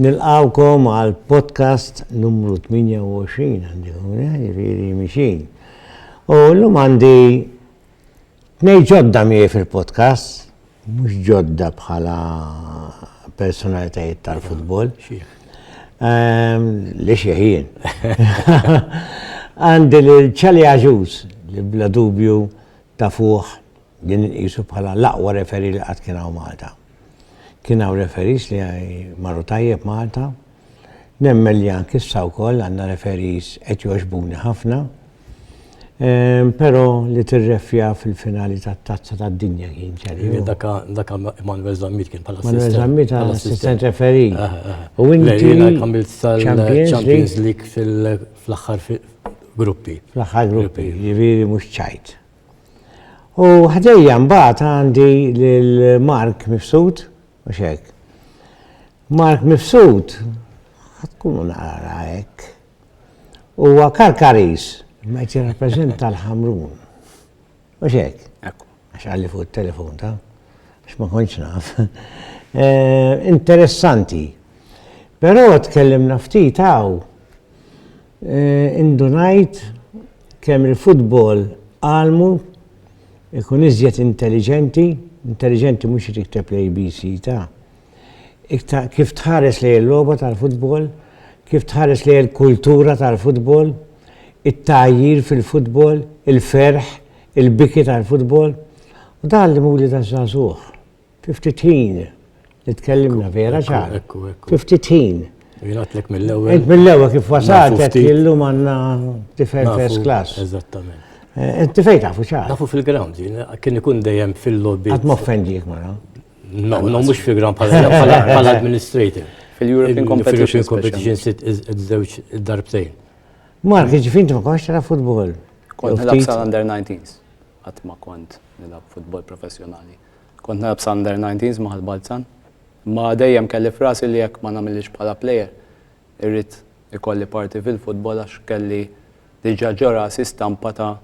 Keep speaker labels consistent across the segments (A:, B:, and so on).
A: Nilqawkom għal podcast numru 28 għandi għuna, jiriri mixin. U l-lum għandi nej ġodda mie fil-podcast, mux ġodda bħala personalitajiet tal-futbol. Ehm, li xieħin. Għandi l-ċali għaġuż li bla dubju ta' fuħ Din inqisu bħala l-aqwa referee li qatt kien hawn Malta. Kien hawn referees li marru tajjeb Malta. Nemmen li anke issa wkoll għandna referees qed jogħġbuni ħafna. Ehm, però li tirrefja fil-finali tat-Tazza tad-Dinja kien ċerri. Iva, dak
B: Manuel Zammit kien bħala assistent. Manuel Zammit għal
A: assistent referee. Ah, ah, ah. U inti
B: jiena kamilt sal-Champions League fl-aħħar gruppi. Fl-aħħar gruppi,
A: jiġifieri mhux ċajt. U ħdejja mbagħad għandi lil Mark Mifsud, mhux hekk. Mark Mifsud, tkunu naqra hekk. Huwa Karkaris, ma qed jirrappreżenta l-Ħamrun. Mhux hekk. Għax għalli fuq it-telefon ta' għax ma kontx naf. Eh, interessanti. Però tkellimna ftit hawn Indunajt kemm il-futbol għalmu ikun iżjed intelliġenti, intelliġenti mhux li tikteb l-ABC ta', kif tħares lejn il-logħba tal-futbol, kif tħares lejn il-kultura tal-futbol, it-tgħajjir fil-futbol, il-ferħ, il-biki tal-futbol. U dan għallimuli taż-żagħżugħ. Fi ftit ħin li tkellimna vera ċar. Ekku, ekku. Fi ftit ħin. Jinatlek
B: mill-ewwel. Int mill-ewwel kif wasalt
A: qed illum għandna tifel first class. Eżattament.
B: Eh, inti fejn tafu
A: ċar. Tafu fil-ground,
B: kien ikun dejjem fil-lobby. Għad moffendik mara.
A: No, no, mux
B: fil-ground pal administrator Fil-European Competition.
C: Fil-European Competition
B: sit iż-żewġ darbtejn. Mark,
A: ġifint ma konx tara futbol. Kont nilab sal-under
C: 19s. Għat ma kont nilab futbol professjonali. Kont nilgħab sa'Under 19s ma' Ħal Balzan. Imma dejjem kelli f'rasi li jekk ma nagħmilhiex bħala plejer, irrid ikolli parti fil-futbol għax kelli diġà ġo rasi stampa ta'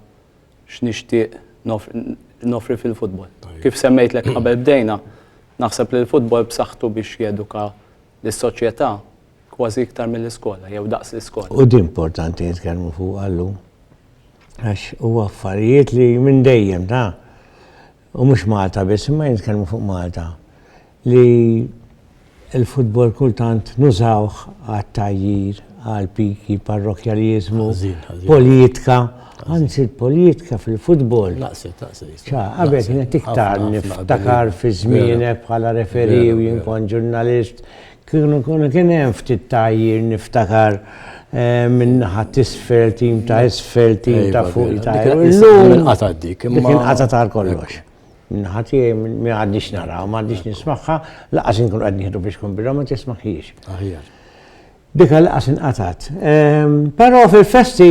C: x'nixtieq noffri fil-futbol. Kif semmejtlek qabel bdejna, naħseb li l-futbol b'saħħtu biex jeduka lis-soċjetà kważi iktar mill-iskola jew daqs l-iskola. U din importanti
A: nitkellmu fuqha llum għax huwa affarijiet li minn dejjem ta' u mhux Malta biss, imma jien nitkellmu fuq Malta, li l-futbol kultant nużawh għat-tgħajjir, għall-piki, parrokjaliżmu, politika, anzi l-politika fil-futbol. Naqset,
B: naqset. Ċa, qabel
A: kienet iktar niftakar fi żmienek bħala referi u jien kont ġurnalist, Kieku kien hemm ftit tgħajjir niftakar minn naħa t'isfel, tim ta' isfel, tim ta' fuq ta' illum. Inqatgħet
B: dik. Dik inqatgħet għal
A: kollox. Minnaħa tiegħi ma għadniex naraw, ma għadniex nismagħha, laqas inkun qed nieħdu biex kun birra ma tismagħhiex. Aħjar.
B: Dik
A: laqas inqatgħet. Però fil-festi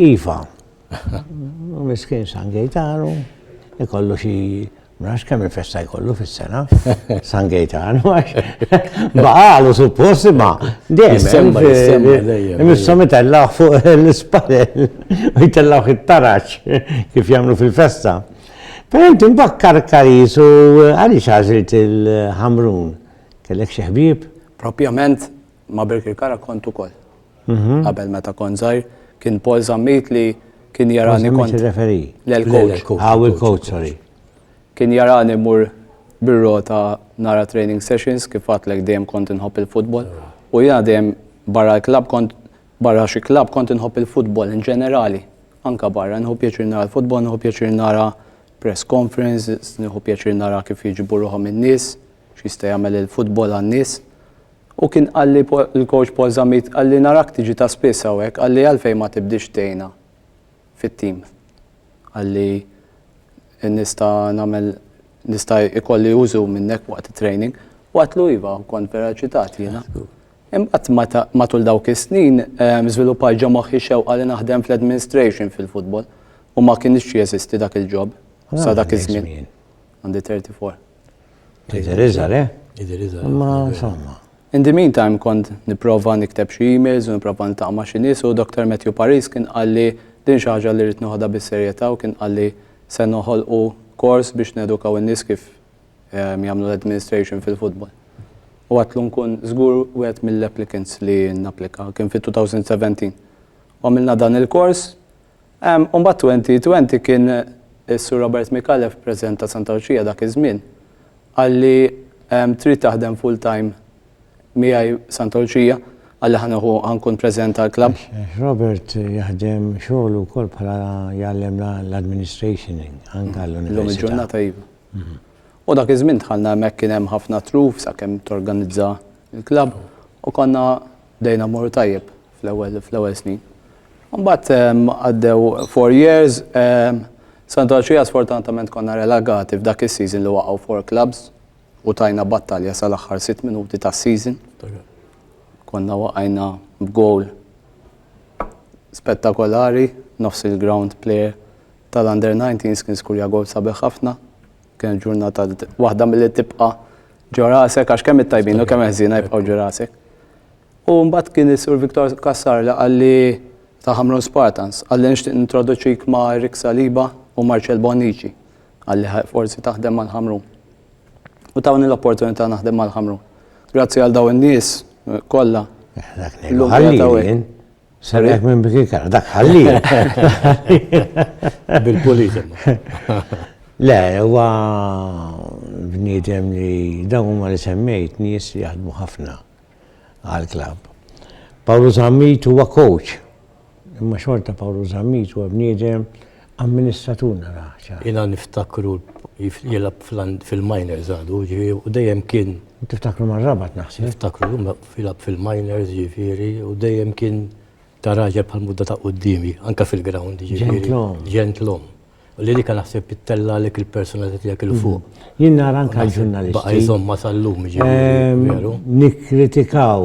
A: iva. Miskin San Gejtaru, ikollu xi Ma nafx kemm il-festa jkollu fis-sena, San Gejtan, baqalu suppost ma. Dejjem, missom itellaħ fuq l-ispalel, u jitellaħ it-taraċ kif jagħmlu fil-festa. Però inti mbakkar karis u għaliex għażilt il-ħamrun? Kellek xi ħbieb? Propjament
C: ma' Birkirkara kont ukoll. Mhm. Qabel meta kont żgħir, kien Paul Zammit li kien jarani kont. Referi. L-coach. Għaw il-coach,
A: sorry. Kien jarani
C: mur bir-rota nara training sessions kif għatlek dejjem kont inħobb il-futbol. U jena dejjem barra l-klab kont barra xi klab kont inħobb il-futbol in ġenerali. Anka barra, nħobb pjaċir nara l-futbol, nħobb pjaċir nara press conference, nħobb pjaċir nara kif jiġibu ruħom in-nies, x'jista' jagħmel il-futbol għan-nies. U kien qalli l-coach Paul Zammit, qalli narak tiġi ta' spiss hawnhekk, qalli għalfejn ma tibdiex tgħinna fit-team. Qalli nista' nagħmel nista' ikolli użu minnek waqt it-training. U għatlu iva, kont vera ċitat jiena. Imbagħad matul dawk is-snin żviluppajt ġo moħħi xewqa li naħdem fl-administration fil-futbol u ma kienx jeżisti dak il-job sa dak iż-żmien. Għandi 34. Jidher iżgħar, eh? Jidher
A: iżgħar. Imma insomma. In the meantime
C: kont nipprova nikteb xi emails u nipprova niltaqa' ma' xi nies u Dr. Matthew Paris kien qalli din xi ħaġa li rrid noħodha bis-serjetà u kien qalli se noħolqu kors biex nedukaw in-nies kif ehm, jagħmlu l-administration fil-futbol. U għatlu nkun żgur wieħed mill-applicants li napplika kien fit-2017. U għamilna dan il-kors U mbagħad twenty twenty kien is-Sur Robert Micallef, President ta' Santa Luċija dak iż-żmien, qalli trid taħdem full time miegħi Santa Luċija qalli ħa nieħu ħa nkun President tal-Klabb. Robert
A: jaħdem xogħlu wkoll bħala jgħallem l-administration anke għall-università. Illum il-ġurnata
C: iva. U dak iż-żmien dħalna hemmhekk kien hemm ħafna truf sakemm torganizza l-klabb u konna Bdejna mmorru tajjeb fl-ewwel fl-ewwel snin. Mbagħad għaddew four years, Santu Għaxija sfortunatament konna relagati f'dak is-season li waqgħu four clubs u tajna battalja sal-aħħar sitt minuti tas-season. Konna waqajna b'gowl spettakolari, nofs il-ground player tal-under 19 kien skurja gowl sabiħ ħafna. Kien ġurnata waħda mill-li tibqa ġorasek, għax kemm it-tajbin u kemm eħżina jibqaw ġorasek. U mbagħad kien is-Sur Viktor Kassar li qalli ta' Hamrun Spartans, qalli nixtieq nintroduċik ma' Rick Saliba u Marcel Bonnici, qalli forsi taħdem mal-Hamrun. U tawni l-opportunità naħdem mal-Hamrun. Grazzi għal daw in-nies kollha. Dak
A: li Serek minn bikin kara, dak ħalli.
B: Bil-pulizem.
A: Le, huwa bniedem li dawn huma li semmejt nies li jaħdmu ħafna għal-klab. Pawlu Zammit huwa coach. Imma xorta Pawlu Zammit huwa bniedem amministratur narah ċar. Jiena niftakru
B: jilgħab fil-minors għadu, ġifieri, u dejjem kien. U tiftakru mar-Rabat
A: naħseb. Niftakru jilgħab
B: fil-minors ġifieri u dejjem kien ta' raġel bħal mudda ta' quddiemi, anke fil-ground ġifieri. Ġentlom. Ġentlom. U li dik naħseb tittella' għalik il-personalità tiegħek il fuq. Jien nara anke
A: l-ġurnalisti. Baqa' jżommha sal-lum
B: ġifieri, veru. Nikkritikaw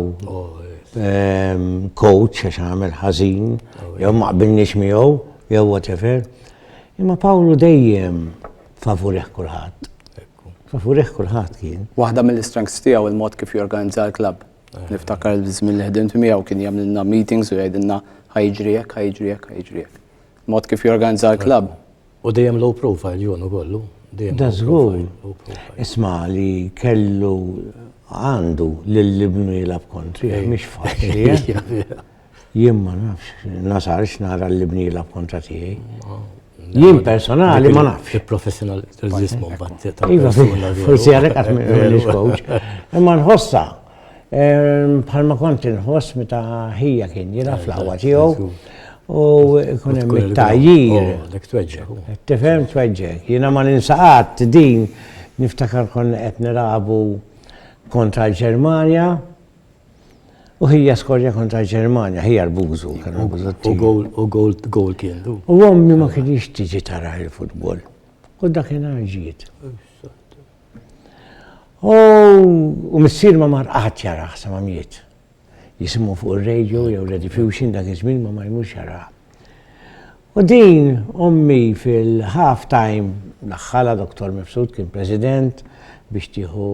A: coach għax għamel ħażin jew ma qbilniex miegħu, Jew whatever. Imma Pawlu dejjem favurih kulħadd. Favurih kulħadd kien. Waħda mill-strengths tiegħu
C: il-mod kif jorganizza l-klabb. Eh. Niftakar l-żmien li ħdimt miegħu kien jagħmlilna meetings u jgħidilna ħajġri hekk, ħajġri hekk, ħajġri hekk. Mod kif jorganizza l-klabb. U dejjem low
B: profile junu kollu. Da żgur.
A: Isma' li kellu għandu lill-ibnu jilab kontri, mhix faċli. Eh? Jien ma nafx, nasarx nara l-libnila b'kontra tiegħi. Jien personali ma nafx. Il-professional tal-ġismu
B: mbagħad. Iva,
A: forsi għalhekk qatt m'iġ coach. Imma nħossa ehm, bħalma kont inħoss meta ħija kien jilha fl-aqwa tiegħu u jkun hemm it-tajjir. Oh, dak tweġġek. Tifhem tweġġek. Jiena ma ninsaqat din niftakar konna qed nilagħbu kontra l-Ġermanja U hija skorja kontra l-Ġermanja, hija l-bużu. U
B: gowl kien. U għommi ma
A: kienx tiġi tara il-futbol. U dakin ġiet. U missir ma mar qaħat jara ħsa ma miet. Jisimu fuq il-radio jew l-edifusion dak iż-żmien ma ma jmux jara. U din ommi fil-half time daħħalha Dottor Mifsud kien President biex tieħu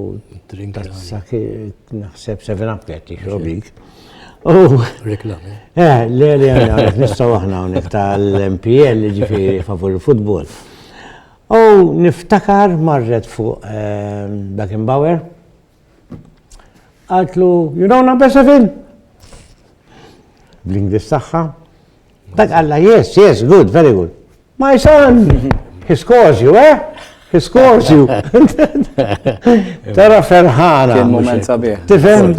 A: tazza naħseb seven up qed tixrob dik.
B: Reklam. Eh, le le
A: għalek nistgħu aħna hawnhekk tal-MPL ġifieri favur il-futbol. U niftakar marret fuq Beckenbauer Għaltlu, you know number seven? Bl-Inglis tagħha. Dak għalla, yes, yes, good, very good. My son, he scores you, eh? He scores you. Tara ferħana. Kien moment sabiħ.
C: Tifhem?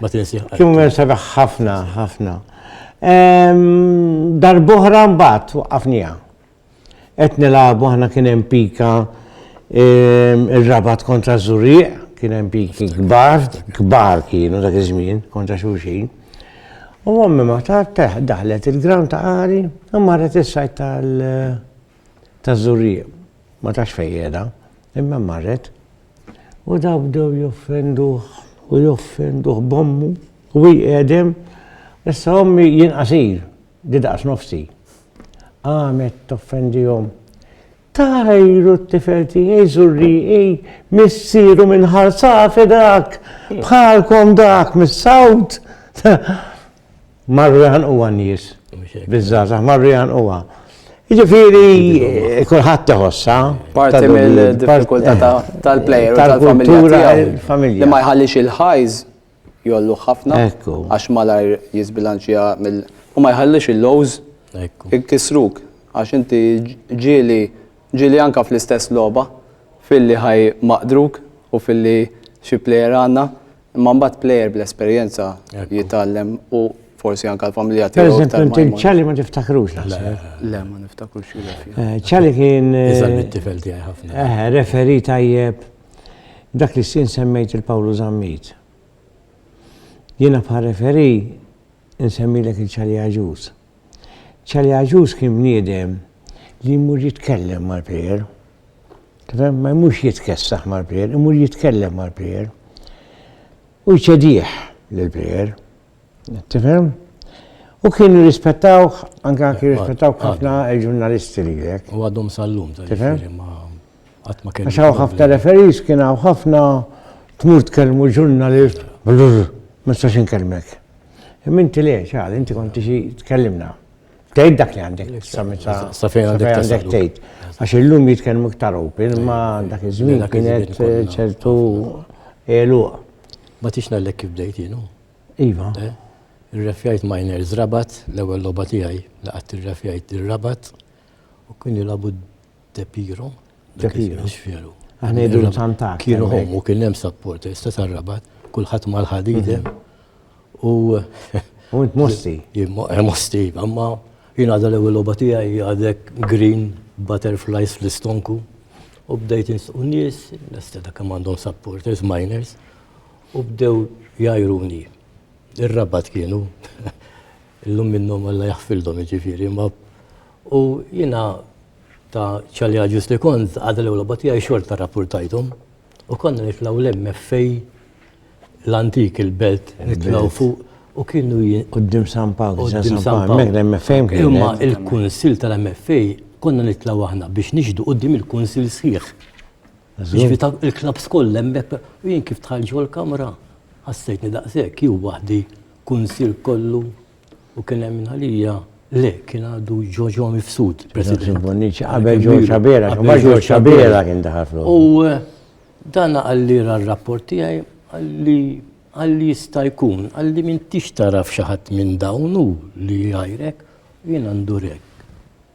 A: Ma tinsi.
B: Kien moment sabiħ
A: ħafna, ħafna. Darbohra mbagħad waqafnija. Qed nilagħbu aħna kien hemm pika ir-Rabat kontra Żurrieq, kien hemm piki kbar, kbar kienu dak iż-żmien kontra xulxin. U ommi ma tat teħ daħlet il-gram ta' qari u marret is-sajt tal ta' Żurrieq. Ma tax fejjeda, imma marret. U daw bdew joffenduh u joffenduh bommu u jqedem. Issa ommi jien qasir, Di daqs nofsi. Qamet toffendihom. Tajru t-tifel tiegħi żurrieqi missieru minn ħarsafi dak, bħalkom dak mis-sawt. Marru jaħan huwa nies. Biżżażaħ marru jaħan huwa. Ġifieri kulħadd teħossa. Parti
C: mill-diffikultà tal-plejer tal-familja. Li ma
A: jħallix il-ħajż
C: jgħolluh ħafna għax malajr jiżbilanċja mill u ma jħallix il-lows ikisruk għax inti ġieli ġieli anke fl-istess logħba filli ħaj maqdruk u filli xi plejer għandna imma mbagħad plejer bl-esperjenza jitgħallem u forsi anke l-familja tiegħu. Pereżempju inti
A: ċali
C: ma
A: tiftakrux Le ma
C: niftakrux. Ċali kien. Iżgħar
A: mit-tifel tiegħi
B: ħafna. Eħe, referi tajjeb.
A: Dak li s-sien semmejt il Pawlu Zammit. Jiena bħal referee insemmilek il Ċali Agius. Ċali Agius kien bniedem li jmur jitkellem mal-plejer. Kifem ma jmurx jitkessaħ mal-plejer, jmur jitkellem mal-plejer. U jċedih l-plejer. Tifhem? U kienu jirrispettawh, anke anke jirrispettawh ħafna il-ġurnalisti li jek. U għadhom sal-lum,
B: tifhem? Għadd ma kien. Għax hawn ħafna referis
A: kien hawn ħafna tmur tkellmu ġurnalist, ma nistax inkellmek. Imma inti le, ċal, inti konti xi tkellimna. Tgħid dak li għandek sa meta sa fejn
B: għandek tgħid. Għax illum
A: jitkellmu iktar open ma dak iż-żmien kienet eh,
B: ċertu
A: eluq. Ma tix
B: nallek kif bdejt jienu. Iva. Eh?
A: Irrefjajt
B: miners rabat, l-ewwel logħba tiegħi li qatt irrefjajt ir-rabat u kien jilabu Tepiro. Tepiro.
A: Xveru. Aħna
B: jidru tantak.
A: Kienu hommu kien hemm
B: support, sta sarrabat, kulħadd mal-ħadidem. Mhm. U. U int
A: mosti. Eh, mosti,
B: imma jien għadha l-ewwel logħba tiegħi għadek green butterflies fl-istonku. U bdejt insqu nies, nesta dak għandhom supporters, miners, u bdew jajruni. Ir-rabat kienu Illum minnhom Alla jaħfildhom jiġifieri, imma u jiena ta' ċalja ġust li kont għadha l-ewwel logħba tiegħi xorta rrappurtajthom u konna nitlgħu l-MFA l-antik il-belt nitlgħu fuq u kienu Quddiem San Pawl,
A: quddiem San Pawl.
B: L-MFA
A: kien. Imma il-Kunsill
B: tal-MFA konna nitlgħu aħna biex nixhdu quddiem il-Kunsill sħiħ. Ġifi ta' il-klaps koll hemmhekk u jien kif tħall ġol kamra ħassejtni daqshekk jew waħdi kunsil kollu u kien hemm minn għalija le kien għadu ġoġo mifsud president. Qabel ġol
A: ċabera, qabel ġol ċabera kien daħal fl U eh,
B: dan għalli ra rapport tiegħi għalli għalli jista' jkun għalli minn tix taraf xi ħadd minn dawnu li jgħajrek jien għandurek.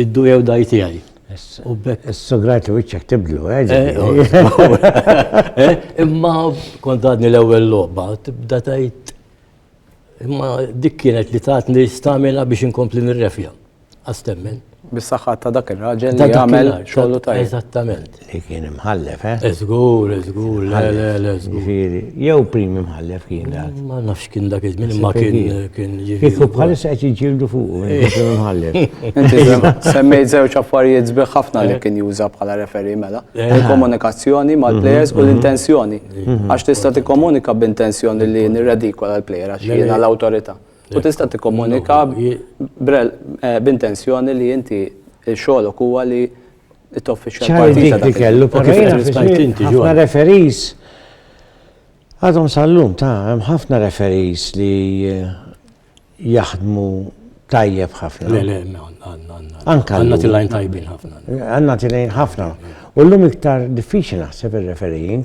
B: Iddu jew daj tiegħi. Is-sugrat wiċċek
A: tibdlu, eh?
B: Imma kont għadni l-ewwel logħba, tibda tajt. Imma dik kienet li tatni stamina biex inkompli nirrefja. Astemmen. Bis-saħħa ta'
C: dak ir-raġel li għamel xogħlu tajt. Eżattament. Li kien
B: imħallef,
A: eh? Eh, żgur, eh,
B: żgur, le, le, le, żgur. Ġifieri, jew prim
A: imħallef kien dak. Ma nafx kien dak iż-żmien
B: imma kien kien ġifieri. Kieku bħalissa
A: qed jiġġieldu fuq eh. prim imħallef. Inti
C: semmejt żewġ affarijiet sbieħ ħafna li eh. kien juża bħala referi mela. Il-komunikazzjoni mal-plejers u mhm, mhm. l-intenzjoni. Mhm. Għax tista' tikkomunika b'intenzjoni li nirredikola l-plejer għax jiena l-awtorità. U tista' tikkomunika b'intenzjoni li inti xogħolok huwa li ċar dik li kellu, pero jena
A: ħafna referis, għadhom sal-lum ta' hemm ħafna referis li eh, jaħdmu tajjeb ħafna. Le, le,
B: anka. Għanna tilajn tajbin ħafna. Għanna tilajn ħafna.
A: U l-lum iktar diffiċi naħseb il-referijin.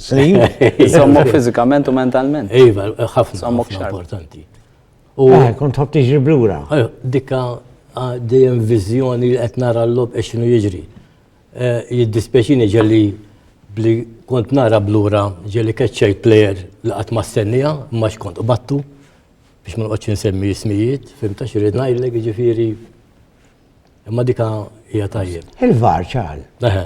A: Sommu
C: fizikament u mentalment. Iva, ħafna ħafna
B: importanti. U eh,
A: kont ħobb tiġri blura. Eh, dikka
B: ah, dejjem viżjoni li qed nara l-lob e x'inhu jiġri. Eh, Jiddispeċini ġelli bli kont nara blura ġelli keċċej plejer li qatt ma stennija, ma x'kont u battu biex ma nqgħodx insemmi ismijiet, fimta xi rid ngħidlek jiġifieri Imma dika hija tajjeb. Il-var ċal.
A: Eħe.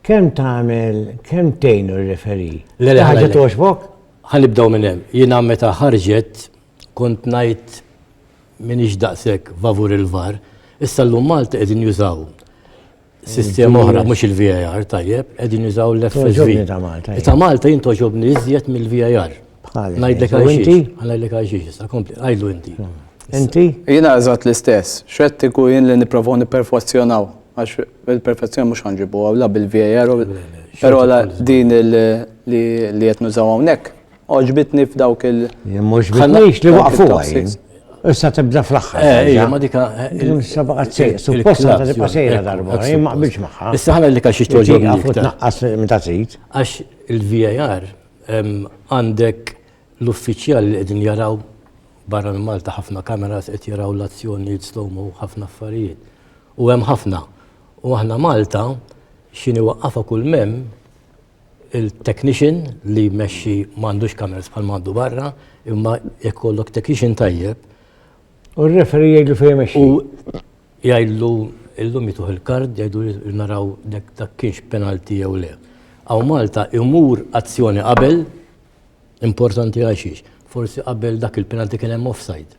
B: Kemm
A: tagħmel, kemm tgħin ir-referi? Le le ħaġa
B: toġbok?
A: Ħanibdew minn hemm.
B: Jiena meta ħarġet kont ngħid minix daqshekk favur il-var, issa llum Malti qegħdin jużaw sistema oħra, mhux il-VAR, tajjeb, qegħdin jużaw l-FSV. Ta'
A: Malta jien toġobni
B: iżjed mill-VAR. Ngħidlek
A: għajxi,
B: ngħidlek
A: għajxi,
B: sa kompli, għajlu inti. Hmm. Inti?
A: Jiena eżatt
C: l-istess, xettiku jien li nipprovaw nipperfezzjonaw, għax il-perfezzjoni mhux ħanġibu għawla bil-VAR, però din li qed nużaw hawnhekk Oġbitni f'dawk il- Mhux bitnix
A: li waqfuha jien.
C: Issa
A: tibda fl-axħar. Eh, ija, ma dika.
B: Issa baqgħet sejra,
A: suppost ta' tibqa' sejra darba, jien ma qbilx magħha. Issa ħana li kaxi toġob.
B: Għafu tnaqqas minn
A: ta' trid. Għax
B: il-VAR għandek l-uffiċjal li qegħdin jaraw barra minn Malta ħafna kameras qed jaraw l-azzjoni slow-mo ħafna affarijiet. U hemm ħafna. U aħna Malta xini waqqafa kull mem il-technician li jmexxi m'għandux kameras bħal m'għandu barra, imma jekk kollok technician tajjeb. U
A: r-referi jgħidlu fejn jmexxi. U
B: jgħidlu illum jituħ il-kard jgħidu naraw dak kienx penalti jew le. Aw Malta imur azzjoni qabel importanti għaxiex. Forsi qabel dak il-penalti kien hemm offside.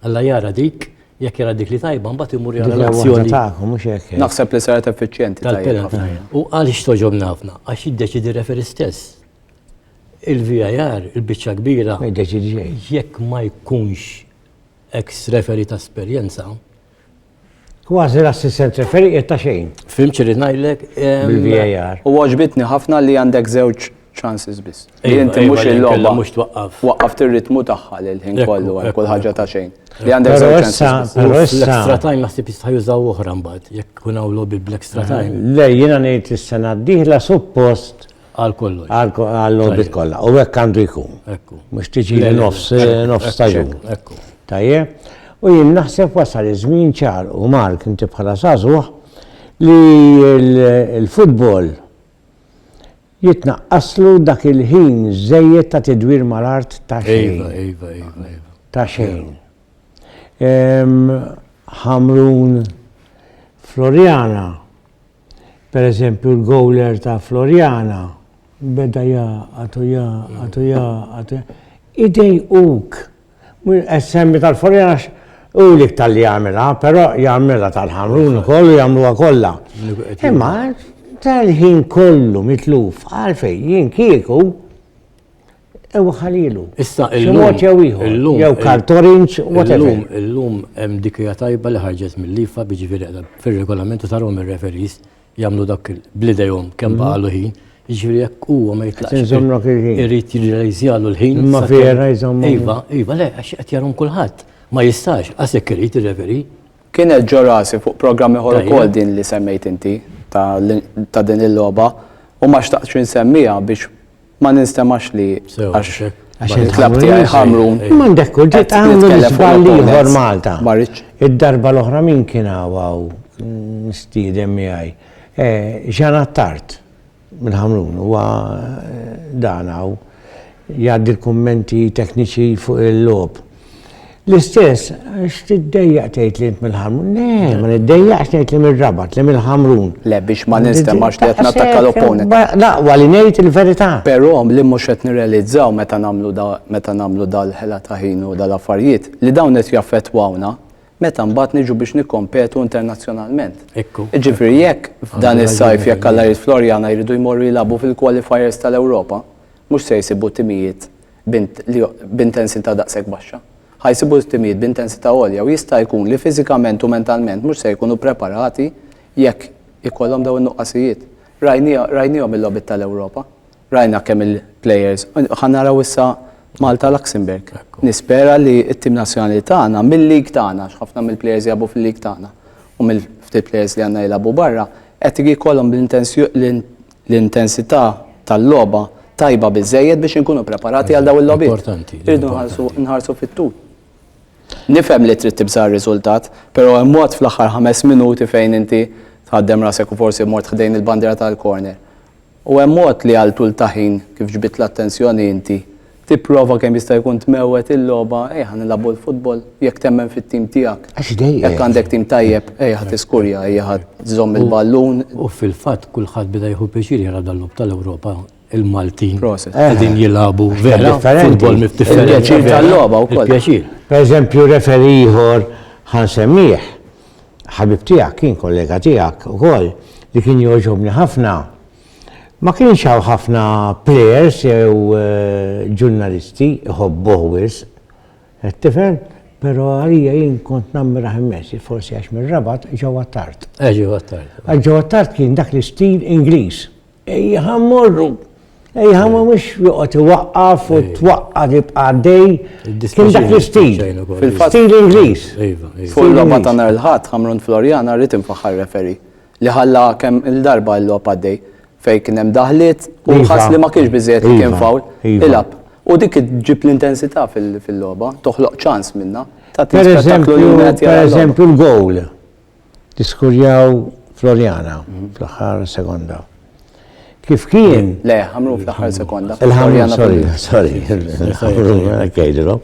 B: Alla jara dik, jekk jara dik li tajba, mbagħad imur jara l-azzjoni.
A: Naħseb li saret effiċjenti
C: tajba. U għaliex
B: toġobna ħafna? Għax jiddeċidi referi stess. Il-VIR, il-biċċa kbira,
A: jekk ma jkunx
B: ex referi ta' esperjenza,
A: Kważi l-assistent referi qed ta' xejn. Fim xirrid ngħidlek.
B: Bil-VAR.
A: U għaġbitni
C: ħafna li għandek żewġ chances biss. Inti mhux il-logħba.
B: Mhux twaqqaf.
C: Waqqaf
B: tir-ritmu tagħha
C: lil ħin kollu għal kull ħaġa ta'
B: xejn. Li għandek
C: żewġ chances. Però
A: l-extra
C: time
A: naħseb jista'
B: jużaw oħra mbagħad jekk kun hawn logħbi bl-extra time. Le jiena ngħid
A: is-sena d-dieħla suppost Għal
B: kollox. Għal l-orbit kollha.
A: U hekk għandu jkun. Ekku. Mhux tiġi
B: li nofs
A: nofs staġun.
B: Ekku.
A: Tajje. U jien naħseb wasal iż-żmien ċar u Mark inti bħala sażuħ li l-futbol jitnaqqaslu dak il-ħin żejjed ta' tidwir mal-art ta' xejn. Iva, iva, iva, iva.
B: Ta' xejn.
A: Ħamrun Floriana Per eżempju l-gowler ta' Floriana beda jaqgħad u jaqgħad u jaqgħad. Idej uk. Semmi tal-Floriana u lik tal-li jagħmilha, però jagħmilha tal-ħamrun ukoll u jagħmluha kollha. Imma tal-ħin kollu mitluf għalfej jien kieku Ew ħalilu. Issa il-mod
B: jew ieħor.
A: Jew kartorinċ, whatever. Illum, illum hemm
B: dikija tajba li ħarġet mill-lifa biġifieri fir-regolament u tarhom ir-referis jagħmlu dak bl-idejhom kemm baqalu mhm. ħin. Ġifieri jekk huwa ma jitlaqx. Inżommlok il-ħin. Irid
A: jirrealizzjalu
B: l-ħin. Ma vera jżommu. Iva,
A: iva, le, għax
B: qed jarhom kulħadd. Ma jistax, għasek irid ir-referi. Kien qed ġorasi
C: fuq programmi ħor ukoll din li semmejt
B: inti
C: ta' din il-logħba u ma xtaqtx insemmija biex ma ninstemax li għax
B: il-klab tiegħi
A: ħamrun.
C: M'għandek kull ġiet
A: għamlu l-iżball
C: ieħor Malta.
A: Id-darba
C: l-oħra min
A: kien hawn nistiedem miegħi. Ġan eh, Attart mill-ħamrun huwa eh, dan hawn jgħaddi l-kummenti tekniċi fuq il-lob. L-istess, għax tiddejjaq tgħid li int mill-ħamrun. Le, ma niddejjaqx tgħid li mill-rabat, li mill-ħamrun. Le biex ma
C: ninstemax li qed nattakka l-opponent. Laqwa li ngħid
A: il-verità. Però li mhux
C: qed nirrealizzaw meta nagħmlu meta nagħmlu dal-ħela ta' ħin u dal-affarijiet li dawn qed jaffettwawna meta mbagħad niġu biex nikkompetu internazzjonalment. Ekku. Ġifieri
B: jekk
C: f'dan is-sajf jekk alla jrid Floriana jridu jmorru jilagħbu fil-qualifiers tal-Ewropa, mhux se jsibu timijiet b'intensità daqshekk baxxa. Ħa jsibu t-timijiet b'intensità għolja u jista' jkun li fiżikament u mentalment mhux se jkunu ppreparati jekk ikollhom dawn in-nuqqasijiet. Rajniehom il-logħbiet tal-Ewropa. Rajna kemm il-players. Ħa naraw issa Malta Luxembourg. Nispera li t-tim nazzjonali tagħna mil-league tagħna, għax ħafna mill-players jilagħbu fil-league tagħna u mill-ftit players li għandna jilagħbu barra, qed jkollhom l-intenzjoni, l-intensità tal-logħba tajba biżżejjed biex inkunu preparati għal daw il-logħbiet. Importanti. Irridu nħarsu fit-tul. Nifhem li trid tibża' r-riżultat, però hemm mod fl-aħħar ħames minuti fejn inti tħaddem rasek u forsi mort ħdejn il-bandiera tal-corner. U hemm mod li għal tul ta' ħin kif ġbidt l-attenzjoni inti Tipprova kemm jista' jkun tmewwet il-logħba, ejja ħa nilagħbu l-futbol, jekk temmen fit-tim tiegħek. Għax dejjem. Jekk għandek
A: tim tajjeb,
C: ejja ħa tiskurja, ejja ħa żżomm il-ballun. U fil-fatt
B: kulħadd beda jieħu pjaċir jara dal-logħob tal-Ewropa, il-Maltin qegħdin
C: jilagħbu
B: vera futbol differenti. Il-pjaċir tal-logħba
C: wkoll. Il-pjaċir. Pereżempju
A: referee ieħor ħa nsemmih, ħabib tiegħek kien kollega tiegħek ukoll li kien jogħġobni ħafna. Ma kienx hawn ħafna plejers jew ġurnalisti jħobbuh wisq. Qed tifhem? Però għalija jien kont nammirah immens, forsi għax mir-Rabat ġewwa t-Tard. Għax ġewwa t-Tard. Għax
B: ġewwa t-Tard kien
A: dak l-istil Ingliż. Ejja ħa mmorru! Ejja ħa mmorru mhux joqgħod iwaqqaf u twaqqa' tibqa' għaddej. Kien dak l-istil. Fil-fatt. Stil Ingliż. Iva, iva. Fuq il-logħba
C: ta' nhar il-Ħadd, Ħamrun Floriana, rrid infaħħar referi. li ħalla kemm il-darba l-logħob għaddej fejn kien hemm daħliet u Iva. ħass li ma kienx biżejjed li kien Iva, fawl. iva. Ilgħab. U dik ġġib l-intensità fil- fil-logħba, toħloq ċans minnha. Tagħti Per spettaklu li eżempju,
A: wieħed per jara l-logħba. eżempju l-gowl li skurjaw Floriana fl-aħħar sekonda. Kif kien Le, ħamru fl-aħħar
C: sekonda. Il-ħamru,
A: Floriana sorry, Pellini. sorry, il-ħamru, għajdilom.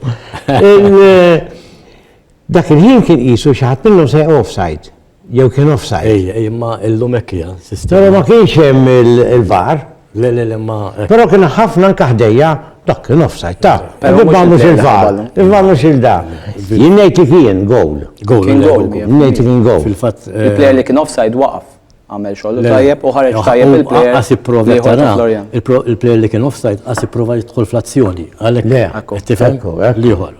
A: Dak il-ħin kien qisu xaħat minnhom se offside. Jew kien offside. Ej, ej, imma illum hekk
B: hija sistema. Però ma kienx
A: hemm il-var. Le, le, le, ma.
B: Però kien ħafna
A: anke ħdejja dak kien offside ta. Il-var mhux il-var. Il-var mhux il-da. Jien ngħid li kien goal. Goal. Kien goal.
C: Ngħid li kien goal.
A: Fil-fatt. Eh, Il-player li kien
B: offside
C: waqaf għamel xogħol tajjeb u ħareġ tajjeb il-player. Qas ipprova tara.
B: Il-player li kien offside qas ipprova jidħol fl-azzjoni. Għalhekk qed tifhem l-ieħor.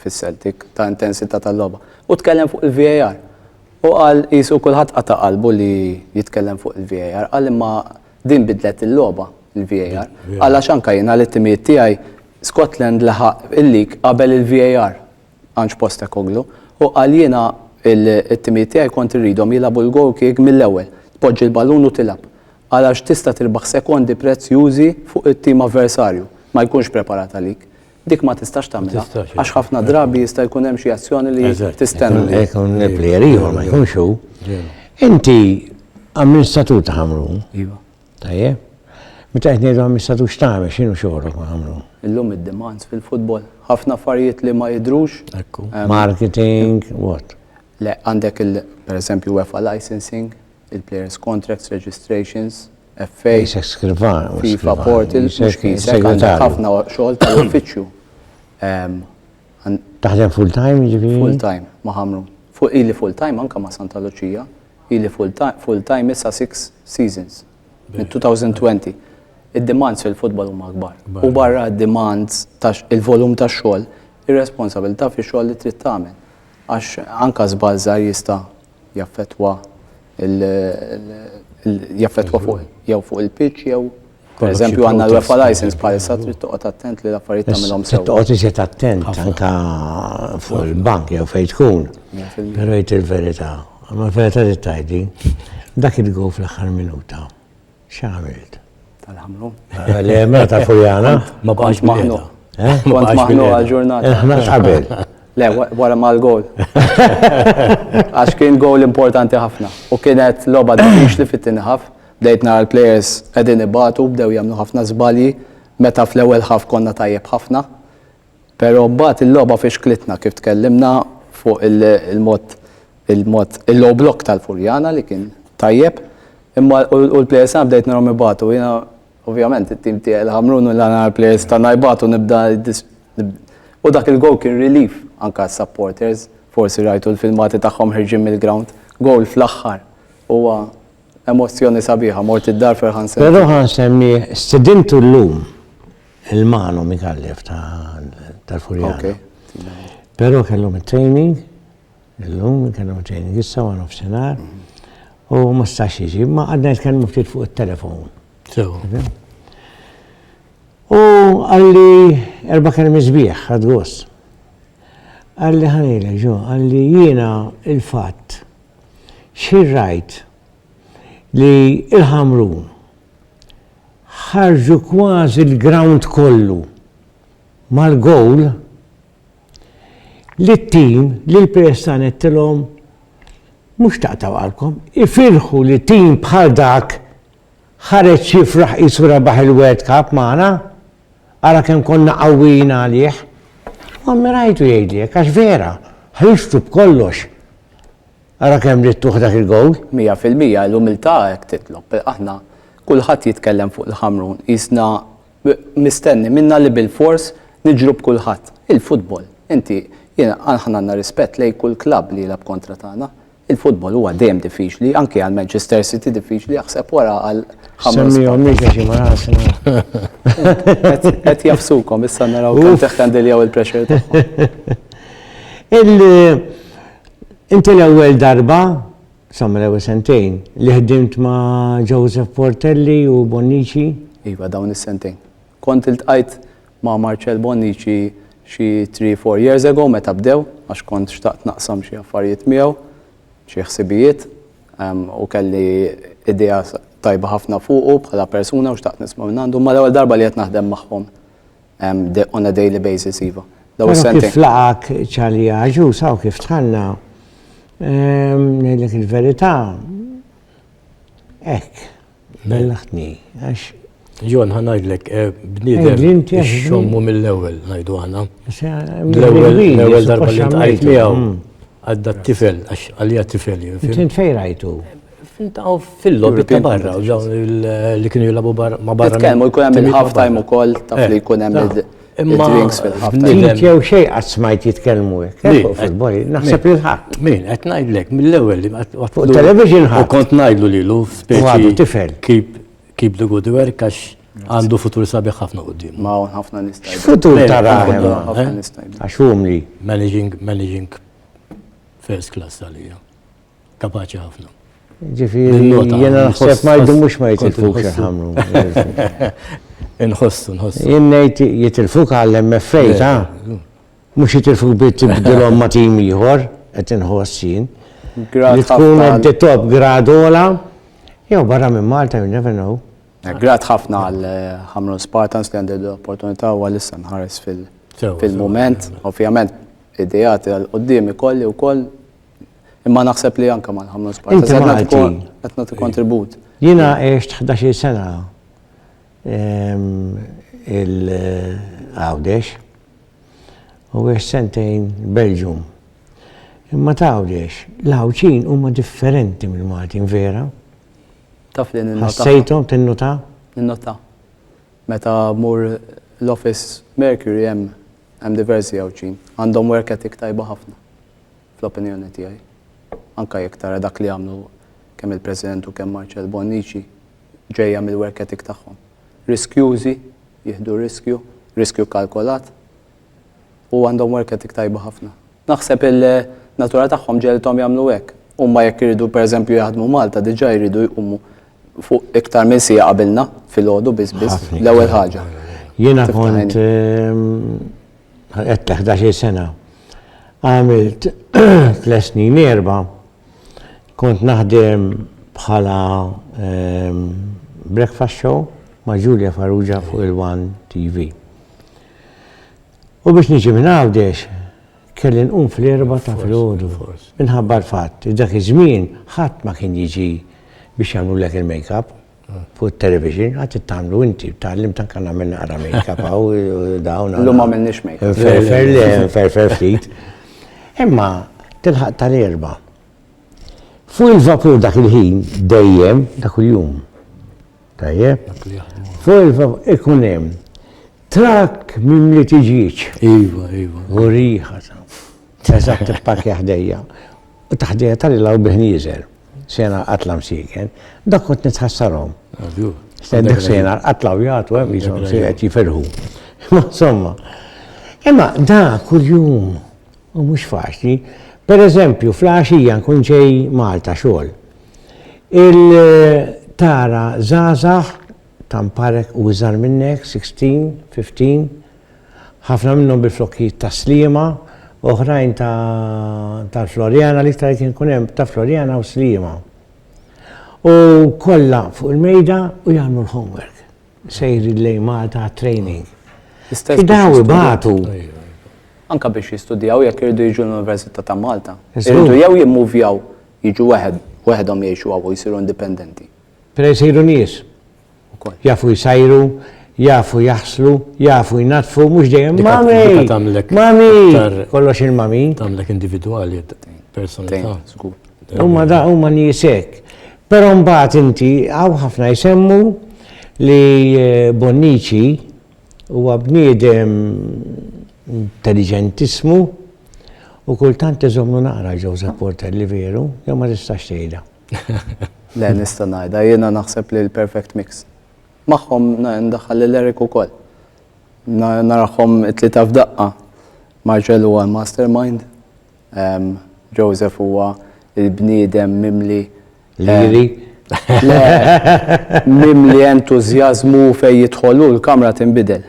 C: fis-Celtic ta' intensità tal-logħba. U tkellem fuq il-VAR. U qal qisu kulħadd qata' qalbu li jitkellem fuq il-VAR. Qal imma din bidlet il-logħba il-VAR. Qal għax anke jien għal it-timijiet tiegħi Scotland laħaq il-lig qabel il-VAR. Ange Postecoglou. U qal jiena it-timijiet tiegħi kont irridhom jilagħbu l-goal kick mill-ewwel. Tpoġġi l-ballun u tilgħab. Qal għax tista' tirbaħ sekondi prezzjużi fuq it-tim avversarju. Ma jkunx preparat għalik. Dik ma tistax tagħmilha. Għax ħafna drabi jista' jkun hemm xi azzjoni li tistenna. Jkun il-plejer
A: ieħor ma jkunx hu. Inti amministratur ta' ħamrun. Iva. Tajjeb. Meta qed ngħidu amministratur x'tagħmel x'inhu xogħolok ma' ħamrun? Illum id-demands
C: fil-futbol. Ħafna affarijiet li ma jidrux. Marketing,
A: what? Le, għandek
C: il, per eżempju, UEFA licensing, il-players contracts, registrations, FA, FIFA portal, għandek ħafna xogħol tal-uffiċċju.
A: Taħdem full time ġifieri? Full time, ma ħamru.
C: Fuq ili full time anka ma Santa Lucia, ili full time issa six seasons minn 2020. Id-demands fil-futbol huma akbar. U barra d-demands il-volum ta' xogħol, ir-responsabilità fi xogħol li trid tagħmel. Għax anka żball żgħar jista' jaffettwa jaffettwa fuq jew fuq il-pitch jew Pereżempju għandna l-UEFA license bħalissa trid toqgħod attent li l-affarijiet tagħmilhom sew. Toqgħod iżjed attent
A: anke fuq il-bank jew fejn tkun. Però jgħid il-verità. Ma l-verità li tgħid din. Dak il-gow fl-aħħar minuta. X'għamilt? Tal-ħamlu.
C: Le, mela
A: ta' Furjana. Ma baqax maħnu.
B: Eh? Ma baqax maħnu
C: għal-ġurnata. Eh, ma qabel.
A: Le, wara
C: ma l-gol. Għax kien gol importanti ħafna. U kienet loba d-dix li fit-tini ħaf. Bdejt nara l-players edin ibatu, bdew jamnu ħafna zbalji. Meta fl-ewel ħaf konna tajjeb ħafna. Pero mbagħad il-logħba fixklitna kif tkellimna fuq il-mod il-mod il-low block tal-Furjana li kien tajjeb imma u l-plejers tagħna bdejt narhom ibatu jiena ovvjament it-tim tiegħi l-Ħamrun u l-għana l-plejers tagħna jbatu nibda u dak il-gowl kien relief anke għas-supporters forsi rajtu l-filmati tagħhom ħerġin mill-ground gowl fl-aħħar huwa emozzjoni sabiħa mort id-dar ferħan semmih. Ferħan semmih,
A: stidintu llum. Il-Mano Mikallef tal-Furjana. Pero kellhom it-training, illum kellhom it-training issa għan nofsinhar. U ma stax jiġi, ma għadna jitkellmu ftit fuq it-telefon. U għalli erba kelmi sbieħ għad gost. Għalli ħanile ġo, għalli jiena il-fatt xirrajt li il-ħamrun ħarġu kważi l-grawnd kollu mal-gowl li t-tim li l-PS għanedtilhom mhux taqtgħu qalbkom, ifirħu li tim bħal dak ħareġ jifraħ qisu rebaħ il-World Cup magħna, ara kemm konna qawwijin għalih. U ammirajtu jgħidli hekk għax vera, ħriġtu b'kollox. Ara kemm ridt tuħ dak il-gowl! Mija fil-mija, l-umiltà
C: hekk titlob. Aħna, kulħadd jitkellem fuq il-Ħamrun, qisna mistenni minna li bilfors niġru b'kulħadd. Il-futbol, inti, jiena, aħna għandna rispett lejn kull klabb li jilgħab kontra tagħna. Il-futbol huwa dejjem diffiċli, anke għal Manchester City diffiċli, aħseb wara għal ħamrun. Semmihom mhix
A: għax huma raħas.
C: Qed jafsukom issa naraw kemm teħkandiljaw il-pressure tagħhom.
A: Inti l-ewwel darba, sa mill-ewwel sentejn, li ħdimt ma' Joseph Portelli u Bonnici? Iva, dawn
C: is-sentejn. Kont iltqajt ma' Marcel Bonnici xi three, four years ago meta bdew, għax kont xtaqt naqsam xi affarijiet miegħu, xi ħsibijiet, u kelli idea tajba ħafna fuqu bħala persuna u xtaqt nisma' minn għandu. Imma l-ewwel darba li qed naħdem magħhom on a daily basis, iva. Daw is-sentejn. Kif laqak
A: ċali ġusa u kif tħanna, ngħidlek il-verità, hekk, bellaħtni, għax. Jon, ħan
B: ngħidlek, eh, bniedem, xommu mill-ewwel ngħidu aħna. L-ewwel darba li tqajt miegħu mm. għadda t-tifel, għax għalija t-tifel. Tint fejn rajtu?
A: F'intaw
B: fil-lobby ta' barra, dawn li kienu jilabu ma' barra. Titkellmu jkun hemm il-halftime
C: ukoll taf li eh, jkun hemm il-drinks fil-halftime. Nid jew xej qatt
A: smajt jitkellmu hekk. Eh, fil-boj, naħseb li ħadd. Min qed ngħidlek
B: mill-ewwel li fuq television ħadd.
A: U kont ngħidlu lilu
B: speċi tifel.
A: Keep keep the
B: good work għax għandu futur sabiħ ħafna qudiem. Ma hawn ħafna nista'
C: Futur tara eh? għax humli.
A: Managing managing
B: first class għalija. Kapaċi ħafna. Ġifieri
A: jiena naħseb ma jdumux ma jitilfux ħamru. Inħossu,
B: nħossu. Jien ngħid
A: jitilfuk għall-MFA ta' mhux jitilfuk bit tibdilhom ma' tim ieħor qed inħoss jien. Li tkun at the top gradola jew barra minn Malta you never know. Eh, grat ħafna
C: għal eh, ħamru Spartans li għandi l-opportunità u għalissa nħares fil-moment. Ovvjament, id-dijat għal-qoddim ikolli u koll Imma naħseb li anka ma nħamlu spazju. Inti Malti. Qed nagħti kontribut. Jiena għext
A: 11 sena ehm, il-Għawdex u għex sentejn Belġum. Imma tawdex, l-ħawċin huma differenti mill Maltin vera. Taf
C: li ninnota. Ħassejthom tinnota?
A: Ninnota.
C: Meta mur l-office Mercury hemm hemm diversi ħawċin. Għandhom work ethic tajba ħafna. fl-opinjoni tiegħi, anke jekk tara dak li għamlu kemm il-President u kemm Marcel Bonnici, ġejja mill-work ethic tagħhom. Riskjużi, jieħdu riskju, riskju kkalkolat, u għandhom work ethic tajba ħafna. Naħseb il-natura tagħhom ġelthom jagħmlu hekk. Huma jekk iridu pereżempju jaħdmu Malta diġà jridu jqumu fuq iktar minn siegħa qabilna filgħodu biss biss l-ewwel ħaġa. Jiena kont
A: Għedt ta' 11 sena. Għamilt tles snin erba' kont naħdem bħala ehm, breakfast show ma' Julia Farrugia fuq il-One TV. U biex niġi minn għawdex, kelli nqum fl-erba ta' fl-ħodu. Minħabba l-fatt, dak iż-żmien ħadd ma kien jiġi biex jagħmlu lek il-make-up. Fuq it-television għad tittamlu inti, tgħallim ta' kan għamil naqra make-up għaw dawn. L-lum għamilniex make-up.
C: Ferfer li ferfer
A: ftit. Imma tilħaq tal-erba. Fuq il-vapur dak il-ħin dejjem dak il-jum. Tajjeb? Fuq il-vapur ikun hemm trak minn li tiġiġ. Iva, iva.
B: U riħa.
A: Eżatt il-pakja ħdejja. U taħdejja tal-ilaw biħniżel. sena qatla msiken, dak kont nitħassarhom. Stendik sena qatla u jagħtu hemm jisom qed jiferħu. Insomma. Imma da kuljum u mhux faċli. Per eżempju, fl-għaxija nkun ġej Malta xogħol. Il-tara żgħażagħ ta' mparek u iżgħar minnek, sixteen, fifteen, ħafna minnhom bil-flokkijiet tas-Sliema, oħrajn ta' tal-Floriana, l-iktar kien ikun hemm ta' Floriana u Sliema. U kollha fuq il-mejda u jagħmlu l-homework. Sejrin lejn Malta għat-training. L-istess Daw biex ibatu. jistudjaw. Ejja, ejja.
C: Anka biex jistudjaw jekk iridu jiġu l-Università ta' Malta. Iżgur. Iridu jew jimmuvjaw jiġu weħed, weħedhom jgħixu hawn u jsiru indipendenti. Pero jsiru
A: nies ukoll. Jafu jsajru, jafu jaħslu, jafu jnaddfu, mhux dejjem il-mami. Dika tagħmlek. Mami! Kollox il-mami. Tagħmlek individwali,
B: personalità. Huma
A: da huma nies hekk. Però mbagħad inti hawn ħafna jsemmu li eh, Bonnici huwa bniedem intelligentismu u kultant iżommu naqra Joseph Porter li veru, jew ma tistax tgħidha. Le,
C: nista' ngħidha, jiena naħseb li l-perfect mix. Magħhom ndaħħal lil Eric ukoll. Narahom it-tlieta f'daqqa. Marcel huwa l-mastermind, ehm, Joseph huwa il-bniedem mimli Liri. Mimli entużjażmu fejn jidħol hu l-kamra tinbidel.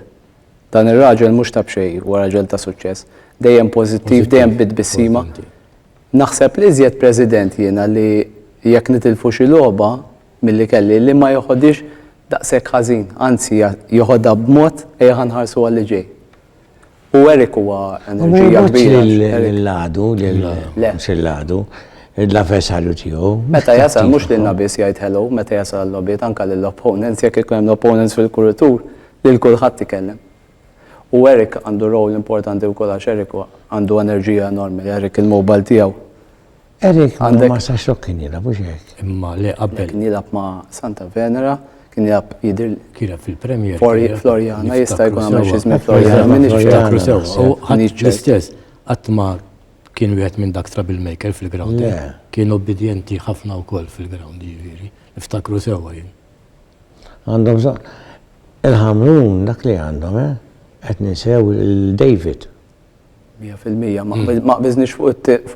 C: Dan ir-raġel mhux ta' b'xejn huwa raġel ta' suċċess. Dejjem pożittiv, dejjem bit-tbissima. Naħseb l-iżjed President jiena li jekk nitilfu xi logħba milli kelli li ma jeħodhiex daqshekk ħażin, anzi jeħodha b'mod ejja nħarsu għalli ġej. U Eric huwa enerġija kbira. Lill-għadu,
A: lill-għadu, l-avversarju tiegħu. Meta jasal mhux
C: lilna biss jgħid hello, meta jasal l-logħbiet anke lill-opponents jekk ikun hemm l-opponents fil-kuritur lil kulħadd ikellem. U Eric għandu role importanti wkoll għax Eric għandu enerġija enormi, Eric il-mobile tiegħu. Eric
A: għandu ma sa xok kien jilab, u xek. Imma li qabel. Kien
B: jilab ma
C: Santa Venera, kien jilab jidir. Kien jilab fil-Premier.
B: Floriana,
C: jista' jkun għamil xizmi Floriana, minn iċtakru sew. U għanġ l-istess,
B: għatma kien wieħed minn dak troublemaker fil-ground. Kien obbedjenti ħafna wkoll fil-ground, ġifieri. Niftakru sewwa jien. Għandhom
A: bżonn. Il-Ħamrun dak li għandhom, eh? Qed ninsew lil David. Mija
C: fil-mija, ma hmm. qbiżniex fuq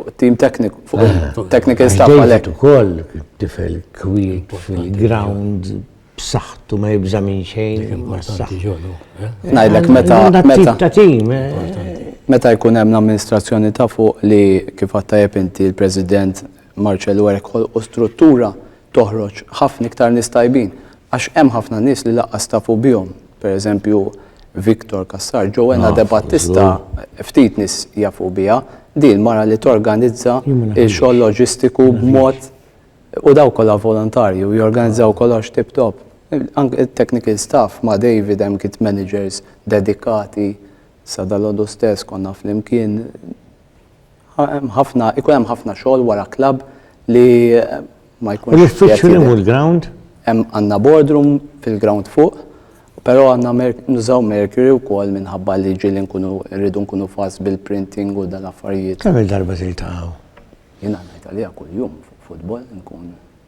C: it-tim tekniku, fuq eh. il-technical staff għalhekk. ukoll
A: tifel kwiet fil-ground b'saħħtu ma jibża' minn xejn. Importanti ġolu.
C: Eh? Ngħidlek meta meta ta' tim. Eh. Meta jkun hemm l-amministrazzjoni ta' fuq li kif għattajb inti l-President Marcello Erkol u struttura toħroġ ħafna iktar nies tajbin għax hemm ħafna nies li laqqas tafu bihom. Pereżempju Victor Cassar, Joanna De Battista ftit nies jafu biha, din mara li torganizza x-xogħol loġistiku b'mod u daw kollha volontarji u jorganizzaw kollox tip top. Anke it-technical staff ma' David hemm kit managers dedikati sa dalgħodu stess konna flimkien. Ħa hemm ħafna, ikun hemm ħafna xogħol wara klabb li ma jkunx. U l-uffiċċju li mhu l-ground?
A: Hemm għandna
C: boardroom fil-ground fuq, però għandna nużaw mercury wkoll minħabba li ġieli nkunu rridu nkunu fast bil-printing u dal-affarijiet. Kemm-il darba trid
A: taqgħu? Jiena ngħid
C: għaliha kuljum fuq football nkun.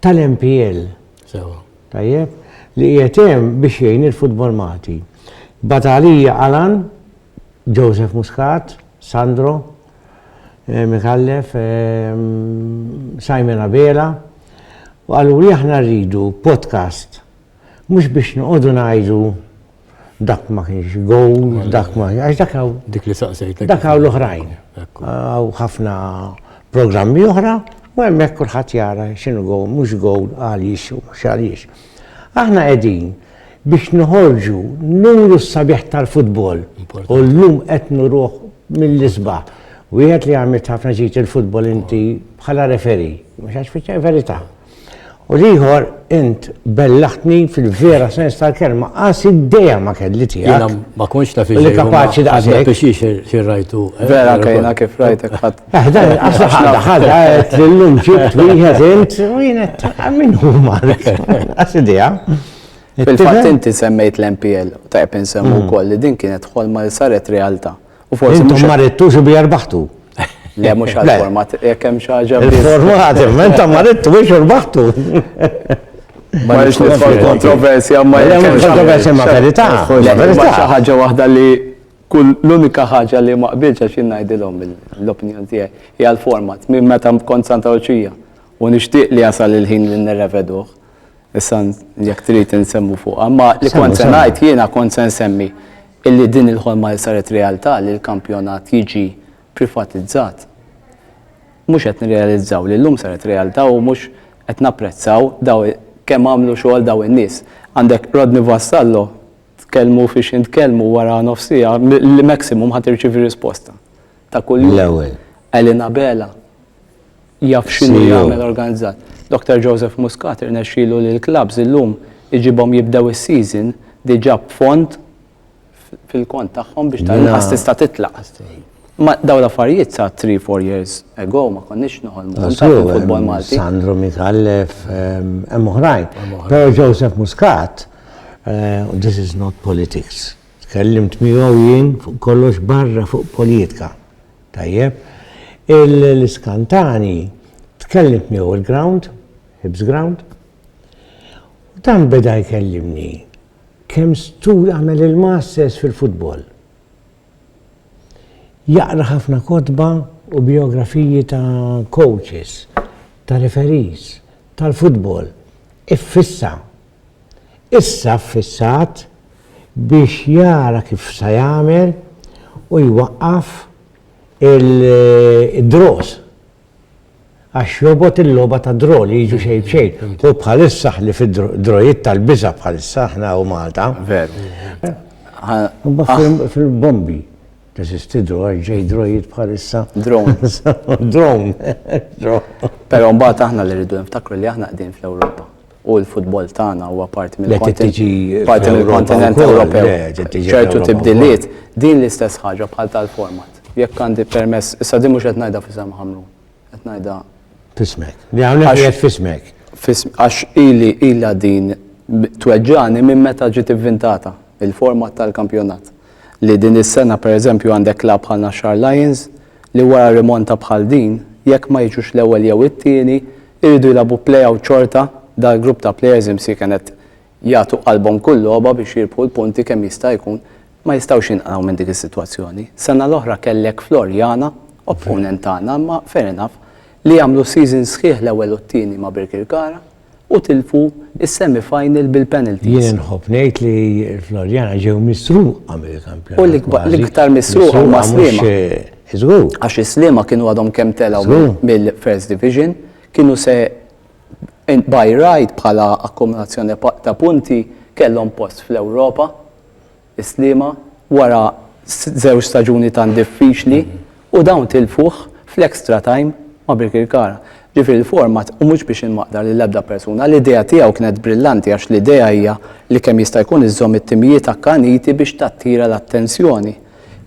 A: tal-MPL. Sewa. Tajjeb, li qiegħed hemm biex jgħin il-futbol Malti. Batalija Alan, Joseph Muscat, Sandro, eh, Mikallef, eh, Simon Abela, u għallu li aħna rridu podcast Mhux biex noqogħdu ngħidu dak ma kienx gowl, dak ma għax dak hawn. Dik li saqsejtek. Dak
B: hawn l-oħrajn.
A: Hawn ħafna programmi oħra u hemmhekk kulħadd jara x'inhu gowl, mhux gowl għaliex u mhux għaliex. Aħna qegħdin biex noħorġu nuru s-sabiħ tal-futbol u llum qed nuruh mill-isbaħ. Wieħed li għamilt ħafna ġid il-futbol inti bħala referi, mhux għax fiċċa verità. U l-ieħor, int bellaħtni fil-vera sens tal-kelma, qas id-dejja ma kelli tiegħek. Jiena ma kontx naf
B: iżgħid. Li kapaċi daqshekk.
A: Biex ixir xi rajtu.
B: Eh, vera kejna kif
C: rajtek ħadd. Eh, dan qas ħadha
A: ħadha qed lillum ġibt wieħed int u jiena min huma. Qas idea. Fil-fatt
C: inti semmejt l-MPL, tajb insemmu mm. wkoll li din
A: kienet
C: ħolma li saret realtà.
A: U
C: forsi intom ma
A: rittux
C: u bija rbaħtu. Le, mux għal-format, jek hemm xaġa. Il-format, menta ma
A: rittu biex urbaħtu.
C: Ma nix nitfall kontroversja, ma jek hemm kontroversja ma
A: verità. Ma verità. ħaġa waħda li
C: kull l-unika ħaġa li ma qbilx għax ngħidilhom l-opinjoni tiegħi hija l-format minn meta kont Santa Luċija u nixtieq li jasal il-ħin li nirreveduh. Issa jekk trid insemmu fuq. Ma li kont se ngħid jiena kont se nsemmi Illi din il-ħolma li saret realtà li l-kampjonat jiġi privatizzat. Mhux qed nirrealizzaw li llum saret realtà u mhux qed napprezzaw daw kemm għamlu xogħol daw in-nies. Għandek Rodney Vassallo, tkellmu fi x'ħin tkellmu wara nofs siegħa li maximum ħa tirċievi risposta ta' kuljum. L-ewwel. Elena
A: Abela.
C: jaf x'inhu e jagħmel organizzat. Dr. Joseph Muscat irnexxielu li l-klabbs illum iġibhom jibdew is-season diġà b'fond fil-kont tagħhom biex tal-inqas tista' titlaq. Ma daw l-affarijiet sa 3-4 years ago ma konniex noħolmu fil-futbol Malti. Sandro Mitallef,
A: hemm oħrajn. Però Joseph Muscat, eh, this is not politics. Tkellimt miegħu jien fuq kollox barra fuq politika. Tajjeb. Il-iskan tani tkellimt miegħu il-ground, Hibs Ground. Dan beda jkellimni kemm stud għamel il-masters fil-futbol. Jaqra ħafna kotba u biografiji ta' coaches, ta' referees, tal-futbol. Iffissa. Issa ffissat biex jara kif sa jagħmel u jwaqqaf il-draws għax jobgħod il-logħba tad-draw li jiġu xejn b'xejn. Hu bħalissa ħlief id-drawiet tal-biża' bħalissa aħna hawn Malta. Veru. Imbagħad fil-bombi teżisti draw għax ġej drawiet bħalissa. Drone.
C: Drone. Però mbagħad aħna li rridu niftakru li aħna qegħdin fl-Ewropa. u l-futbol tagħna huwa parti mill-kontinent Ewropew. ċertu tibdiliet, din l-istess ħaġa bħal tal-format. Jekk għandi permess, issa din mhux qed ngħidha f'isem Ħamrun, qed ngħidha. F'ismek.
A: Hawnhekk qiegħed f'ismek. Għax
C: ili ilha din tweġġagħni minn meta ġiet ivvintata il-format tal-kampjonat. Li din is-sena pereżempju għandek klabb bħal Naxxar Lions, li wara rimonta bħal din, jekk ma jiġux l-ewwel jew it-tieni, iridu jilagħbu play-out xorta, dal-grupp ta' plejers imsieken qed jagħtu qalbhom kull logħba biex jirbħu l-punti kemm jista' jkun, ma jistgħux jinqraw minn dik is-sitwazzjoni. Sena l-oħra kellek Floriana, opponent tagħna imma fair enough, li għamlu season sħiħ l-ewwel u t-tieni ma' Birkirkara. u tilfu s-semi final bil-penalties. Jien inħobb ngħid li
A: Floriana ġew misruqa mill-kampjonat. U l-iktar
C: misruqa huma Sliema. Żgur.
A: Għax is-Sliema
C: kienu għadhom kemm telgħu mill-First Division, kienu se by right bħala akkumulazzjoni ta' punti kellhom post fl-Ewropa. is-Sliema wara żewġ staġuni tant diffiċli u dawn tilfuh fl-extra time ma' Birkirkara. Ġifieri l-format, u mhux biex inmaqda lil ebda persuna, l-idea tiegħu kienet brillanti għax l-idea hija li kemm jista' jkun iżżomm it-timijiet akkaniti biex tattira l-attenzjoni.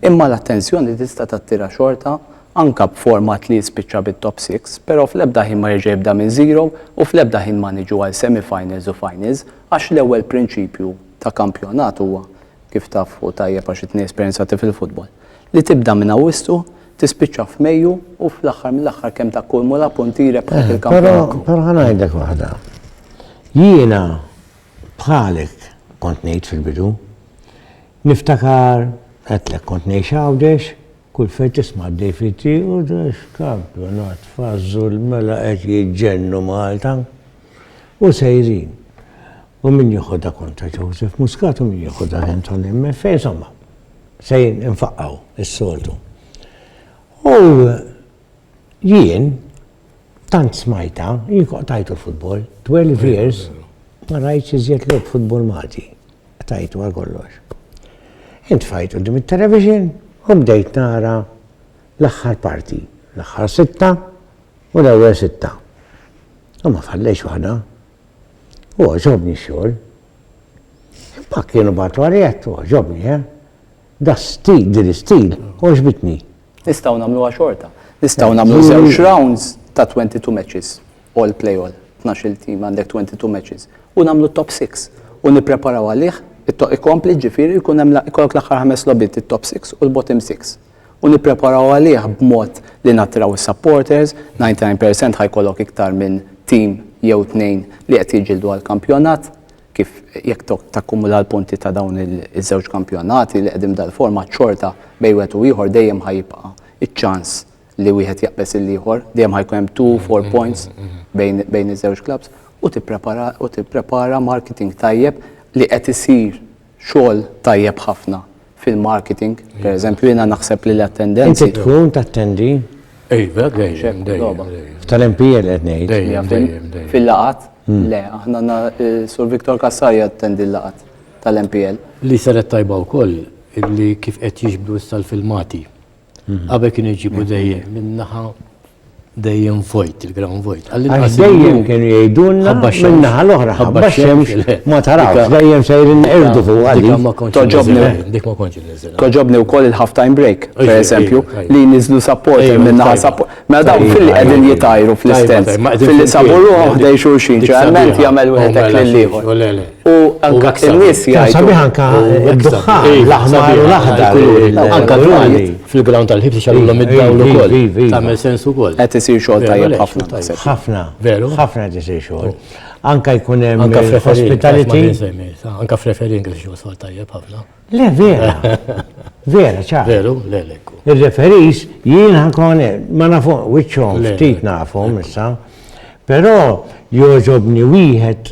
C: Imma l-attenzjoni tista' tattira xorta anke b'format li jispiċċa bit-top six, però fl-ebda ħin ma jerġa' jibda minn zero u fl-ebda ħin ma niġu għal semi-finals u finals għax l-ewwel prinċipju ta' kampjonat huwa, kif tafu tajjeb għax it-tnejn esperjenzati fil-futbol, li tibda minn Awwissu, tispiċċa f'Mejju u fl-aħħar mill-aħħar kemm takkumula punti jrebbħek il-kampjonat. Però ħa ngħidlek
A: waħda. Jiena bħalek kont ngħid fil-bidu. Niftakar għedtlek kont ngħix Għawdex, kull fejn tisma' għaddej fit-triq u kampjonat fażżu l-mela qed jiġġennu Malta. U sejrin. U min jieħodha kontra Joseph Muscat u min jieħodha Anton MFA, insomma, sejrin infaqqaw is-soltu. U jien, tant smajta, jien tajtu l-futbol, 12 years, ma rajtx iżjed l futbol Malti. Tajtu għal kollox. Int fajt u dim il-television, u bdejt nara l-aħħar parti, l-aħħar sitta u l-ewwel sitta. U ma fallejx waħda. U għoġobni x-xogħol. Imma kienu batu għarjet u għoġobni, eh? Da stil, din stil, u ġbitni. Nistaw namlu
C: għaxorta. Nistaw namlu zewġ rounds ta' 22 matches. All play all. 12 team għandek 22 matches. U namlu top 6. U nipreparaw għalih, ikompli ġifiri, jkun hemm l-aħħar ħames lobit, it-top 6 u l-bottom 6. u nippreparaw għalih b'mod li nattiraw is-supporters, 99 percent ħa jkollok iktar minn team jew tnejn li qed jiġġieldu għall-kampjonat, kif jekk takkumula l-punti ta' dawn iż-żewġ kampjonati li qegħdin b'dal-format xorta bejn wieħed u ieħor dejjem ħa jibqa' iċ-ċans li wieħed jaqbeż il-ieħor, dejjem ħa jkun hemm two, four points bejn iż-żewġ clubs, u tipprepara marketing tajjeb li qed isir. xogħol tajjeb ħafna fil-marketing, per eżempju, jiena naħseb li l-attendenzi. Inti tkun tattendi?
A: Iva,
B: dejjem, dejjem. Tal-MPL
A: qed ngħid. Fil-laqat? Hmm.
C: Le, aħna eh, Sur Viktor Kassar jattendi l-laqat tal-MPL. Li saret tajba
B: wkoll li kif qed jiġbdu issa l-filmati Qabel kienu jġibu mm-hmm. dejjem minnaħa dejjem vojt, il-ground vojt. Għax dejjem kienu
A: jgħidulna minnaħa l-oħra, ħabba xemx ma tarafx, dejjem sejrin irdu fuq għalli. Dik ma konċi
B: nizil. Toġobni u koll il-half
C: time break, per eżempju, li nizlu support minnaħa support. Ma mela dawn fil-li għedin jitajru fl-istens. Fil-li saburu għahdej xurxin, ġerment jgħamil u għetek l-liħor. U anka n-nies jgħidu. Kien sabiħ anka
A: d-duħħan, l-aħmar u l-aħdar. Anka l-għali
B: fil-ground tal-ħibs ixagħluhom id-dawl ukoll. Tagħmel sens ukoll. Qed isir xogħol tajjeb
C: ħafna naħseb. Ħafna, veru,
A: ħafna qed
B: isir xogħol.
A: Anka jkun hemm anka hospitality. Anka
B: f'referin qed isir xogħol tajjeb ħafna. Le vera.
A: Vera, ċar. Veru, le lekku.
B: Il-referis
A: jien ħankun ma nafu wiċċhom ftit nafu issa. Però joġobni wieħed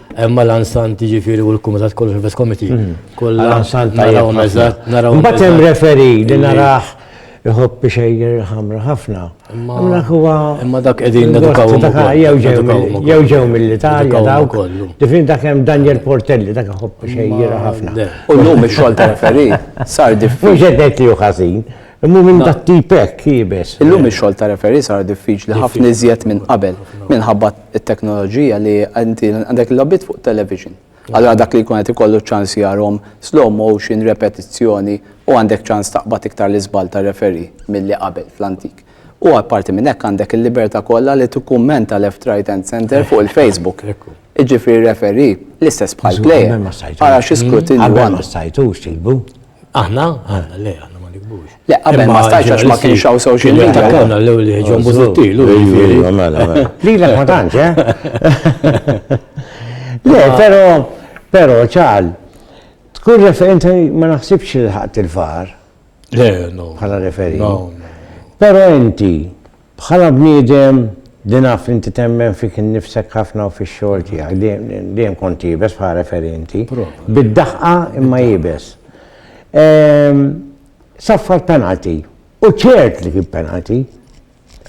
B: Hemm Alan Sant jiġifieri u l-Kumitat kollu Service Committee. Mhm. Kollha Alan Sant naraw
A: eżatt,
B: naraw. Mbagħad hemm referi
A: li narah iħobb ixejjer il-ħamra ħafna.
B: Imma dak qegħdin nedukawhom ukoll. Jew ġew
A: mill-Italja dawk. Difin dak hemm Daniel Portelli dak iħobb ixejjer ħafna. U llum ix-xogħol ta'
C: referi sar diffiċli. Mhux qed ngħid li hu ħażin.
A: Imma minn dat tipek jibes. Illum ix-xogħol ta' referi
C: sar diffiċli ħafna iżjed minn qabel minħabba it-teknoloġija li inti għandek il-logħbiet fuq television. Allura dak li jkun qed ikollu ċ-ċans jarahom slow motion, repetizzjoni u għandek ċans taqbad iktar l-iżball tar-referee milli qabel fl-antik. U apparti minn hekk għandek il-libertà kollha li tikkummenta left, right and centre fuq il-Facebook. Jiġifieri referee l-istess bħall-player ara xi skrutinju għandu. Qabel ma stajtux
A: tiktbu. Aħna?
B: Aħna, le, aħna ma nikbux. Le, qabel ma stajx għax
C: ma kienx hawn social media. Kienu għamna l-ewli ġon
B: buzuttil.
A: Li l ma tantx, eh? Le, pero, pero, ċal, tkun referenti ma naħsibx il-ħat il-far. Le, no.
B: Bħala referi. No,
A: no.
B: Pero
A: inti, Bħala bniedem li naf li inti temmen fik innifsek ħafna u fix-xogħol tiegħek, dejjem kont iebes bħala referee inti. Bid-daħqa imma iebes. Saffar penalty. U ċert li kien penalty.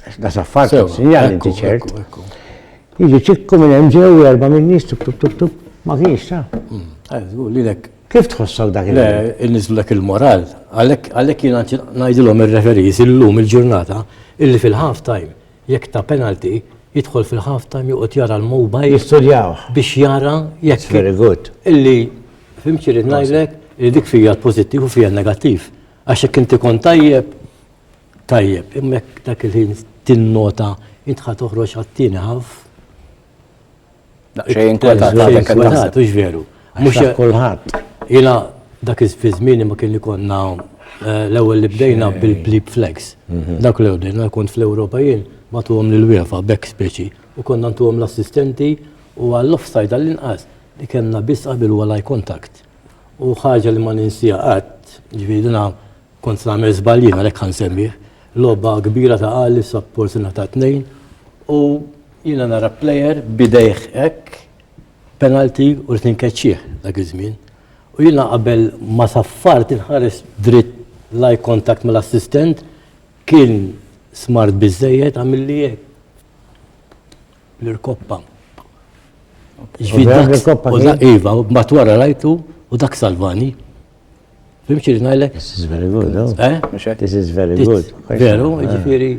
A: Għax da saffar kien sinjal li inti ċert. Jiġi ċikku minn hemm ġew erba' minn nies tuk tuk tuk tuk ma kienx ta. Lilek.
B: Kif tħossok
A: dak il Inniżlu dak
B: il-moral, għalhekk jiena ngħidilhom ir-referees illum il-ġurnata illi fil-half time jekk ta penalty jidħol fil-half time joqgħod jara l-mobile. Jistudjawh. Biex
A: jara
B: jekk. Very good. Illi fim xi rrid ngħidlek li dik fija l-pożittiv u fija n-negattiv. Għax jekk inti kont tajjeb Tajjeb, imma jekk dak il-ħin tinnota int ħa toħroġ għat-tieni ħaf.
C: Xejn kwetat, hux veru.
B: Mhux kulħadd.
A: Ila
B: dak iż-żmien ma kien ikonna eh, l-ewwel li bdejna bil-blip flex. Mhm. Dak l-ewwel bdejna kont fl-Ewropa jien ma tuhom lil wiefa back speċi u konna ntuhom l-assistenti u għall-offside għall-inqas li kellna biss qabel wara contact. U ħaġa li ma ninsija qatt, ġvidina Kont se nagħmel żball jien għalhekk ħa nsemmih. Logħba kbira ta' Alli sa porzjoni ta' tnejn u jiena nara plejer b'idejh hekk penalti u rid inkeċċih dak iż-żmien. U jiena qabel ma saffart inħares dritt l-eye contact mal-assistent kien smart biżżejjed għamilli hekk bl-irkoppa. Iva, mat wara rajtu u dak salvani.
A: Fimx li
B: ngħidlek? This
A: is
B: very
A: good, no? Oh. Eh? Mhux hekk? This
B: is very
A: good. Veru,
B: ah.
A: jiġifieri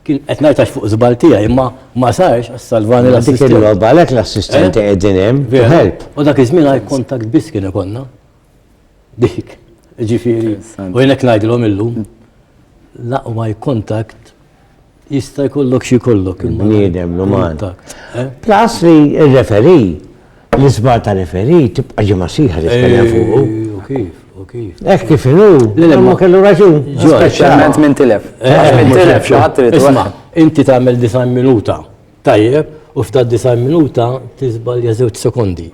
A: kien
B: qed ngħidtax fuq żball tiegħi, imma ma sarx salvani l-assistent. Dik il-logħba għalhekk l-assistenti
A: eh? qegħdin hemm to help. U dak iż-żmien
B: għaj kontakt biss kien ikonna. Dik, ġifieri. U jnek ngħidilhom illum l-aqwa kontakt Jista' jkollok xi jkollok. Bniedem l-uman.
A: Eh? Plus
B: li
A: r-referi, l-isbar ta' referi tibqa' ġimgħa siħa li tkellem fuqu. Kif?
B: kif? Ek eh, kif inu?
A: L-lemma kellu raġun. Speċjalment minn
C: tilef. Eh, eh, minn tilef xaħat trid. Isma, inti tagħmel
B: design minuta. Tajjeb, u f'ta' design minuta tiżbalja żewġ sekondi.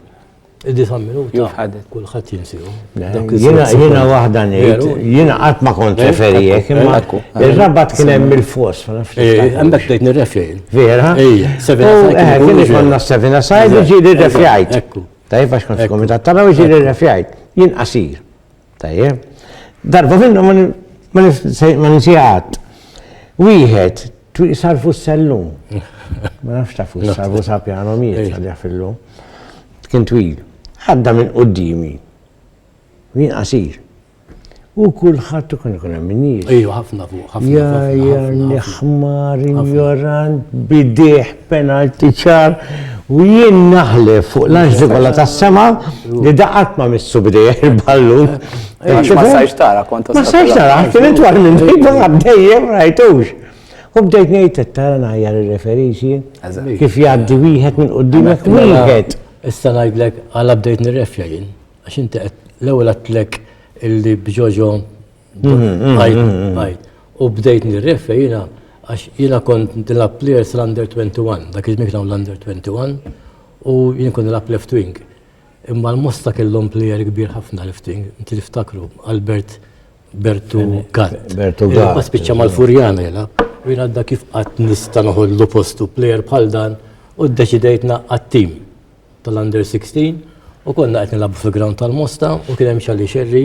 B: Disa minuta.
C: Kulħadd
B: jinsiru. Jiena
A: waħda ngħid, jiena qatt ma kont referijek, imma ir-rabat kien hemm il-fos. Għandek tgħid
B: nirrefjajn. Vera? Ejja,
A: sevina sajt.
B: Eh, kien ikonna sevina
A: sajt u ġieli refjajt. Tajjeb għax
B: kont komitat
A: tara u ġieli refjajt. Jien qasir. Tajjeb. Darba minnu ma nisijat. Wieħed Twieqi sarfu s-sellum. Ma nafx ta' fuq sarfu sa' pjano miet għadja fillu. Kien twil. Għadda minn qoddimi. Min qasir. U kullħat u kien ikun hemm nies. Ejju, ħafna fuq, ħafna fuq.
B: Ja, ja,
A: l-ħmar, ignorant, bidieħ. Penalty ċar u jien naħlef fuq l-anġli kollha tas-sema li da qatt ma missu bidejh il-ballun. Ma sajx
C: tara kont Ma sajx tara, kien
A: intwar minn dejjem ma bdejjem rajtux. U bdejt ngħid qed tara ngħajjar ir-referixi kif jgħaddi wieħed minn qudiemek wieħed. Issa ngħidlek
B: għala bdejt nirrefja jien għax inti qed l-ewwel għedtlek illi b'Ġoġo U bdejt nirrefe jina, għax jina kont nilab players l-under 21, dak iż-żmien kienu l-under 21, u jien kont nilab left wing. Imma l-mosta kellhom player kbir ħafna left wing, inti tiftakru, Albert Bertu Gatt. Bertu Gatt. Ma spiċċa
A: mal-Furjan
B: jela, u jien għadda kif qatt nista' noħollu postu player bħal dan, u ddeċidejt naqqat tim tal-under 16 u konna qed nilagħbu fil-ground tal-Mosta u kien hemm xalli xerri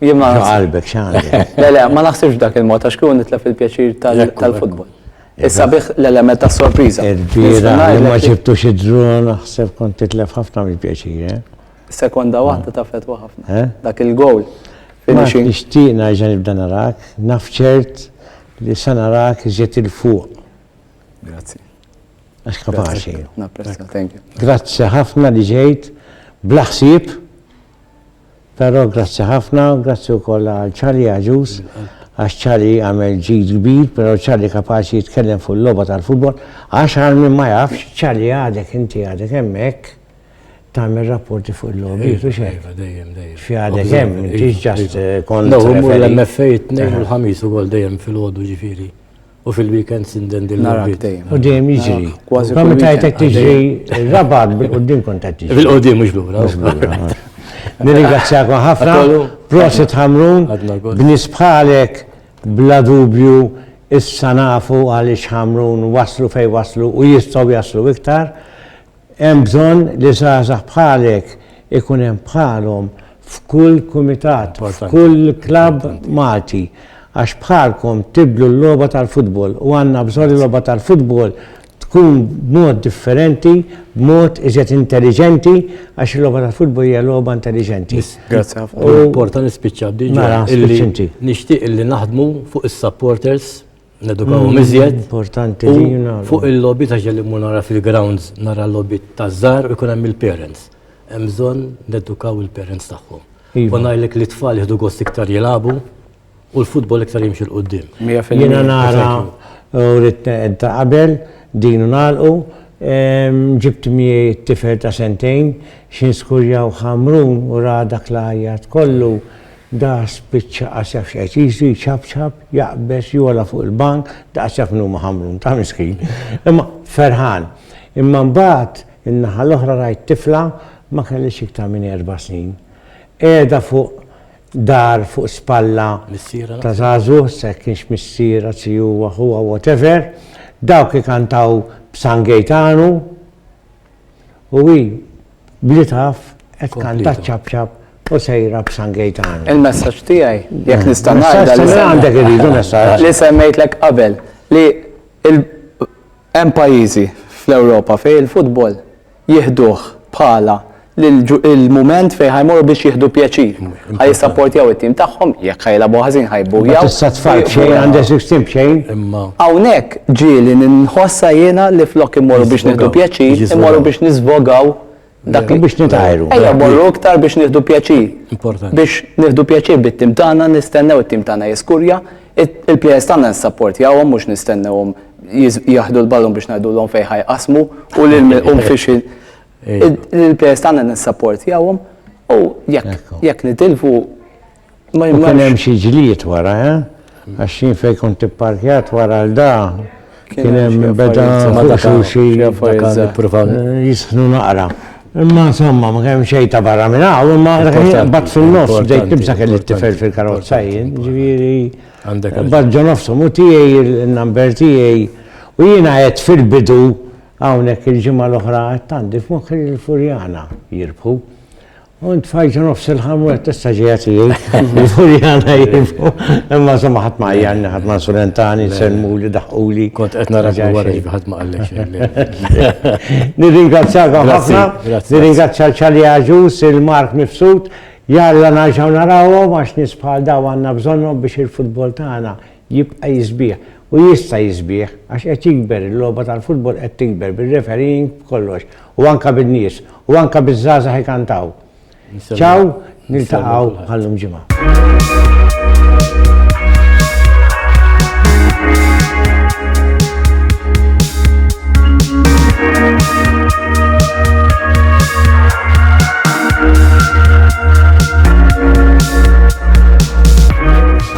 C: Jien ma qalbek x'għandek.
A: Le le, ma naħsibx dak
C: il-mod għax kieku nitlef il-pjaċir tal-futbol. Issa bih l-element ta' sorpriża. Il-bira li ma
A: ġibtux id-dron naħseb kont titlef ħafna mill-pjaċir, eh? Sekonda
C: waħda ta' fetwa ħafna. Eh? Dak il-gowl. Ma
A: nixtieq nerġa' nibda narak, naf ċert li sa narak iżjed il-fuq. Grazzi.
C: Għax
A: kapaċi.
C: Grazzi ħafna li
A: ġejt blaħsib. Però grazzi ħafna, grazzi wkoll għal Charlie Agius għax Charlie għamel ġid kbir, però Charlie kapaċi jitkellem fuq il-logħba tal-futbol għax għal min ma jafx, Charlie għadek inti għadek hemmhekk tagħmel rapporti fuq il-logħbiet u x'hekk. Iva, dejjem, dejjem. Xi
B: għadek hemm,
A: m'intix ġast kont. Nagħmlu l-MFA
B: t-tnejn u l-ħamis ukoll dejjem filgħodu ġifieri. U fil-weekend sinden din l-arbit. U dejjem
C: jiġri.
A: Kważi. Kważi tajt qed
C: tiġri
A: rabat bil-qudiem kont qed tiġri. Bil-qudiem mhux lura.
B: Nirringrazzjakom
A: ħafna. Prosit Ħamrun. Bnies bħalek bla dubju issa nafu għaliex Ħamrun waslu fejn waslu u jistgħu jaslu iktar. Hemm bżonn li żgħażagħ bħalek ikun hemm bħalhom f'kull kumitat, f'kull klabb Malti għax bħalkom tibdlu l-logħba tal-futbol u għandna bżonn li l-logħba tal-futbol tkun b'mod differenti, b'mod iżjed intelliġenti għax il-logħba tal-futbol hija logħba intelliġenti. Grazzi ħafna.
C: Porta nispiċċa
B: diġà. Mela, spiċċa inti. Nixtieq li naħdmu fuq is-supporters Nedukawhom mm, iżjed. Importanti li
A: Fuq il-lobby
B: ta' ġelli mu nara fil-grounds nara l-lobby ta' żar u jkun hemm il-parents. Hemm bżonn nedukaw il-parents tagħhom. Iva. U ngħidlek li tfal jieħdu gost iktar jilagħbu u l-futbol iktar jimxi l-qudiem. Jiena nara
A: u ritna ta' qabel din nagħlqu ġibt miegħi t-tifel ta' sentejn x'in skurjaw ħamrun u ra dak l kollu Da spiċċa qasjaf x'qeqisu jċapċap, jaqbeż, jogħla fuq il-bank, daqsjaf min hu maħamrun, ta' miskin, imma ferħan. Imma mbagħad, in-naħa l-oħra rajt tifla ma kellhiex iktar minn erba' snin, qiegħda fuq dar fuq spalla ta' żagħżugħ, se kienx missier, anzi huwa ħuha, whatever, dawk ikantaw b'San Gejtanu, u hi bl-itaf qed tkanta ċ-ċapċap u sejra b'San Gejtanu. Il-messaġġ tiegħi,
C: jekk nista' ngħidha li għandek
A: irridu
C: messaġġ.
A: Li semmejtlek qabel
C: li hemm pajjiżi fl-Ewropa fejn il-futbol jieħduh bħala l-mument fejn ħa jmorru biex jieħdu pjaċir. Ħa jissapportjaw it-tim tagħhom, jekk ħa jilagħbu ħażin ħa jbbujaw. Tista' tfal b'xejn
A: għandek żewġ tim b'xejn. Imma. Hawnhekk
B: ġieli
C: ninħossha jiena li flok immorru biex nieħdu pjaċir, immorru biex nisvogaw dak li biex nitajru. Ejja
A: morru iktar
C: biex nieħdu pjaċir. Importanti. Biex
B: nieħdu pjaċir
C: bit-tim tagħna, nistennew it-tim tagħna jiskurja, il-players tagħna nsapportjawhom mhux nistennewhom jaħdu l-ballun biex ngħidulhom fejn ħajqasmu u lil milqum fiex Il-players tagħna nissapportjawhom u jekk nitilfu ma jimma. Kien hemm xi
A: ġlied wara, eh? Għax jien fejn kont ipparkjat wara l da kien hemm beda xi jisħnu naqra. Imma insomma, ma kemm xejn ta' barra minn hawn, imma bat fin-nofs bdejt nibsa kelli t-tifel fil-karozza jien, ġifieri. Bat ġo nofsu mu tiegħi il-number tiegħi u jiena qed fil-bidu Hawnhekk il-ġimgħa l-oħra għedt għandi f'moħħi li l-Furjana jirbħu. U int fajġa nofs il-ħam u testa ġeja tiegħi. Il-Furjana jirbħu. Imma insomma ħadd ma jgħanni, ħadd ma nsulentani, semmuli, daħquli. Kont qed nara ġeja
B: wara li ħadd ma qallek xejn. Nirringrazzjakom
A: ħafna. Nirringrazzja l-Ċali Aġus, il-Mark Mifsud. Jalla naġaw narawhom għax nisbħal daw għandna bżonnhom biex il-futbol tagħna jibqa' jisbiħ u jista' jisbiħ għax qed jikber, il-logħba tal-futbol qed tikber bir-refereeing b'kollox u anke bin-nies u anke biż-żgħażagħ ikantaw. Ciao, niltaqgħu bħal-lum ġimgħa.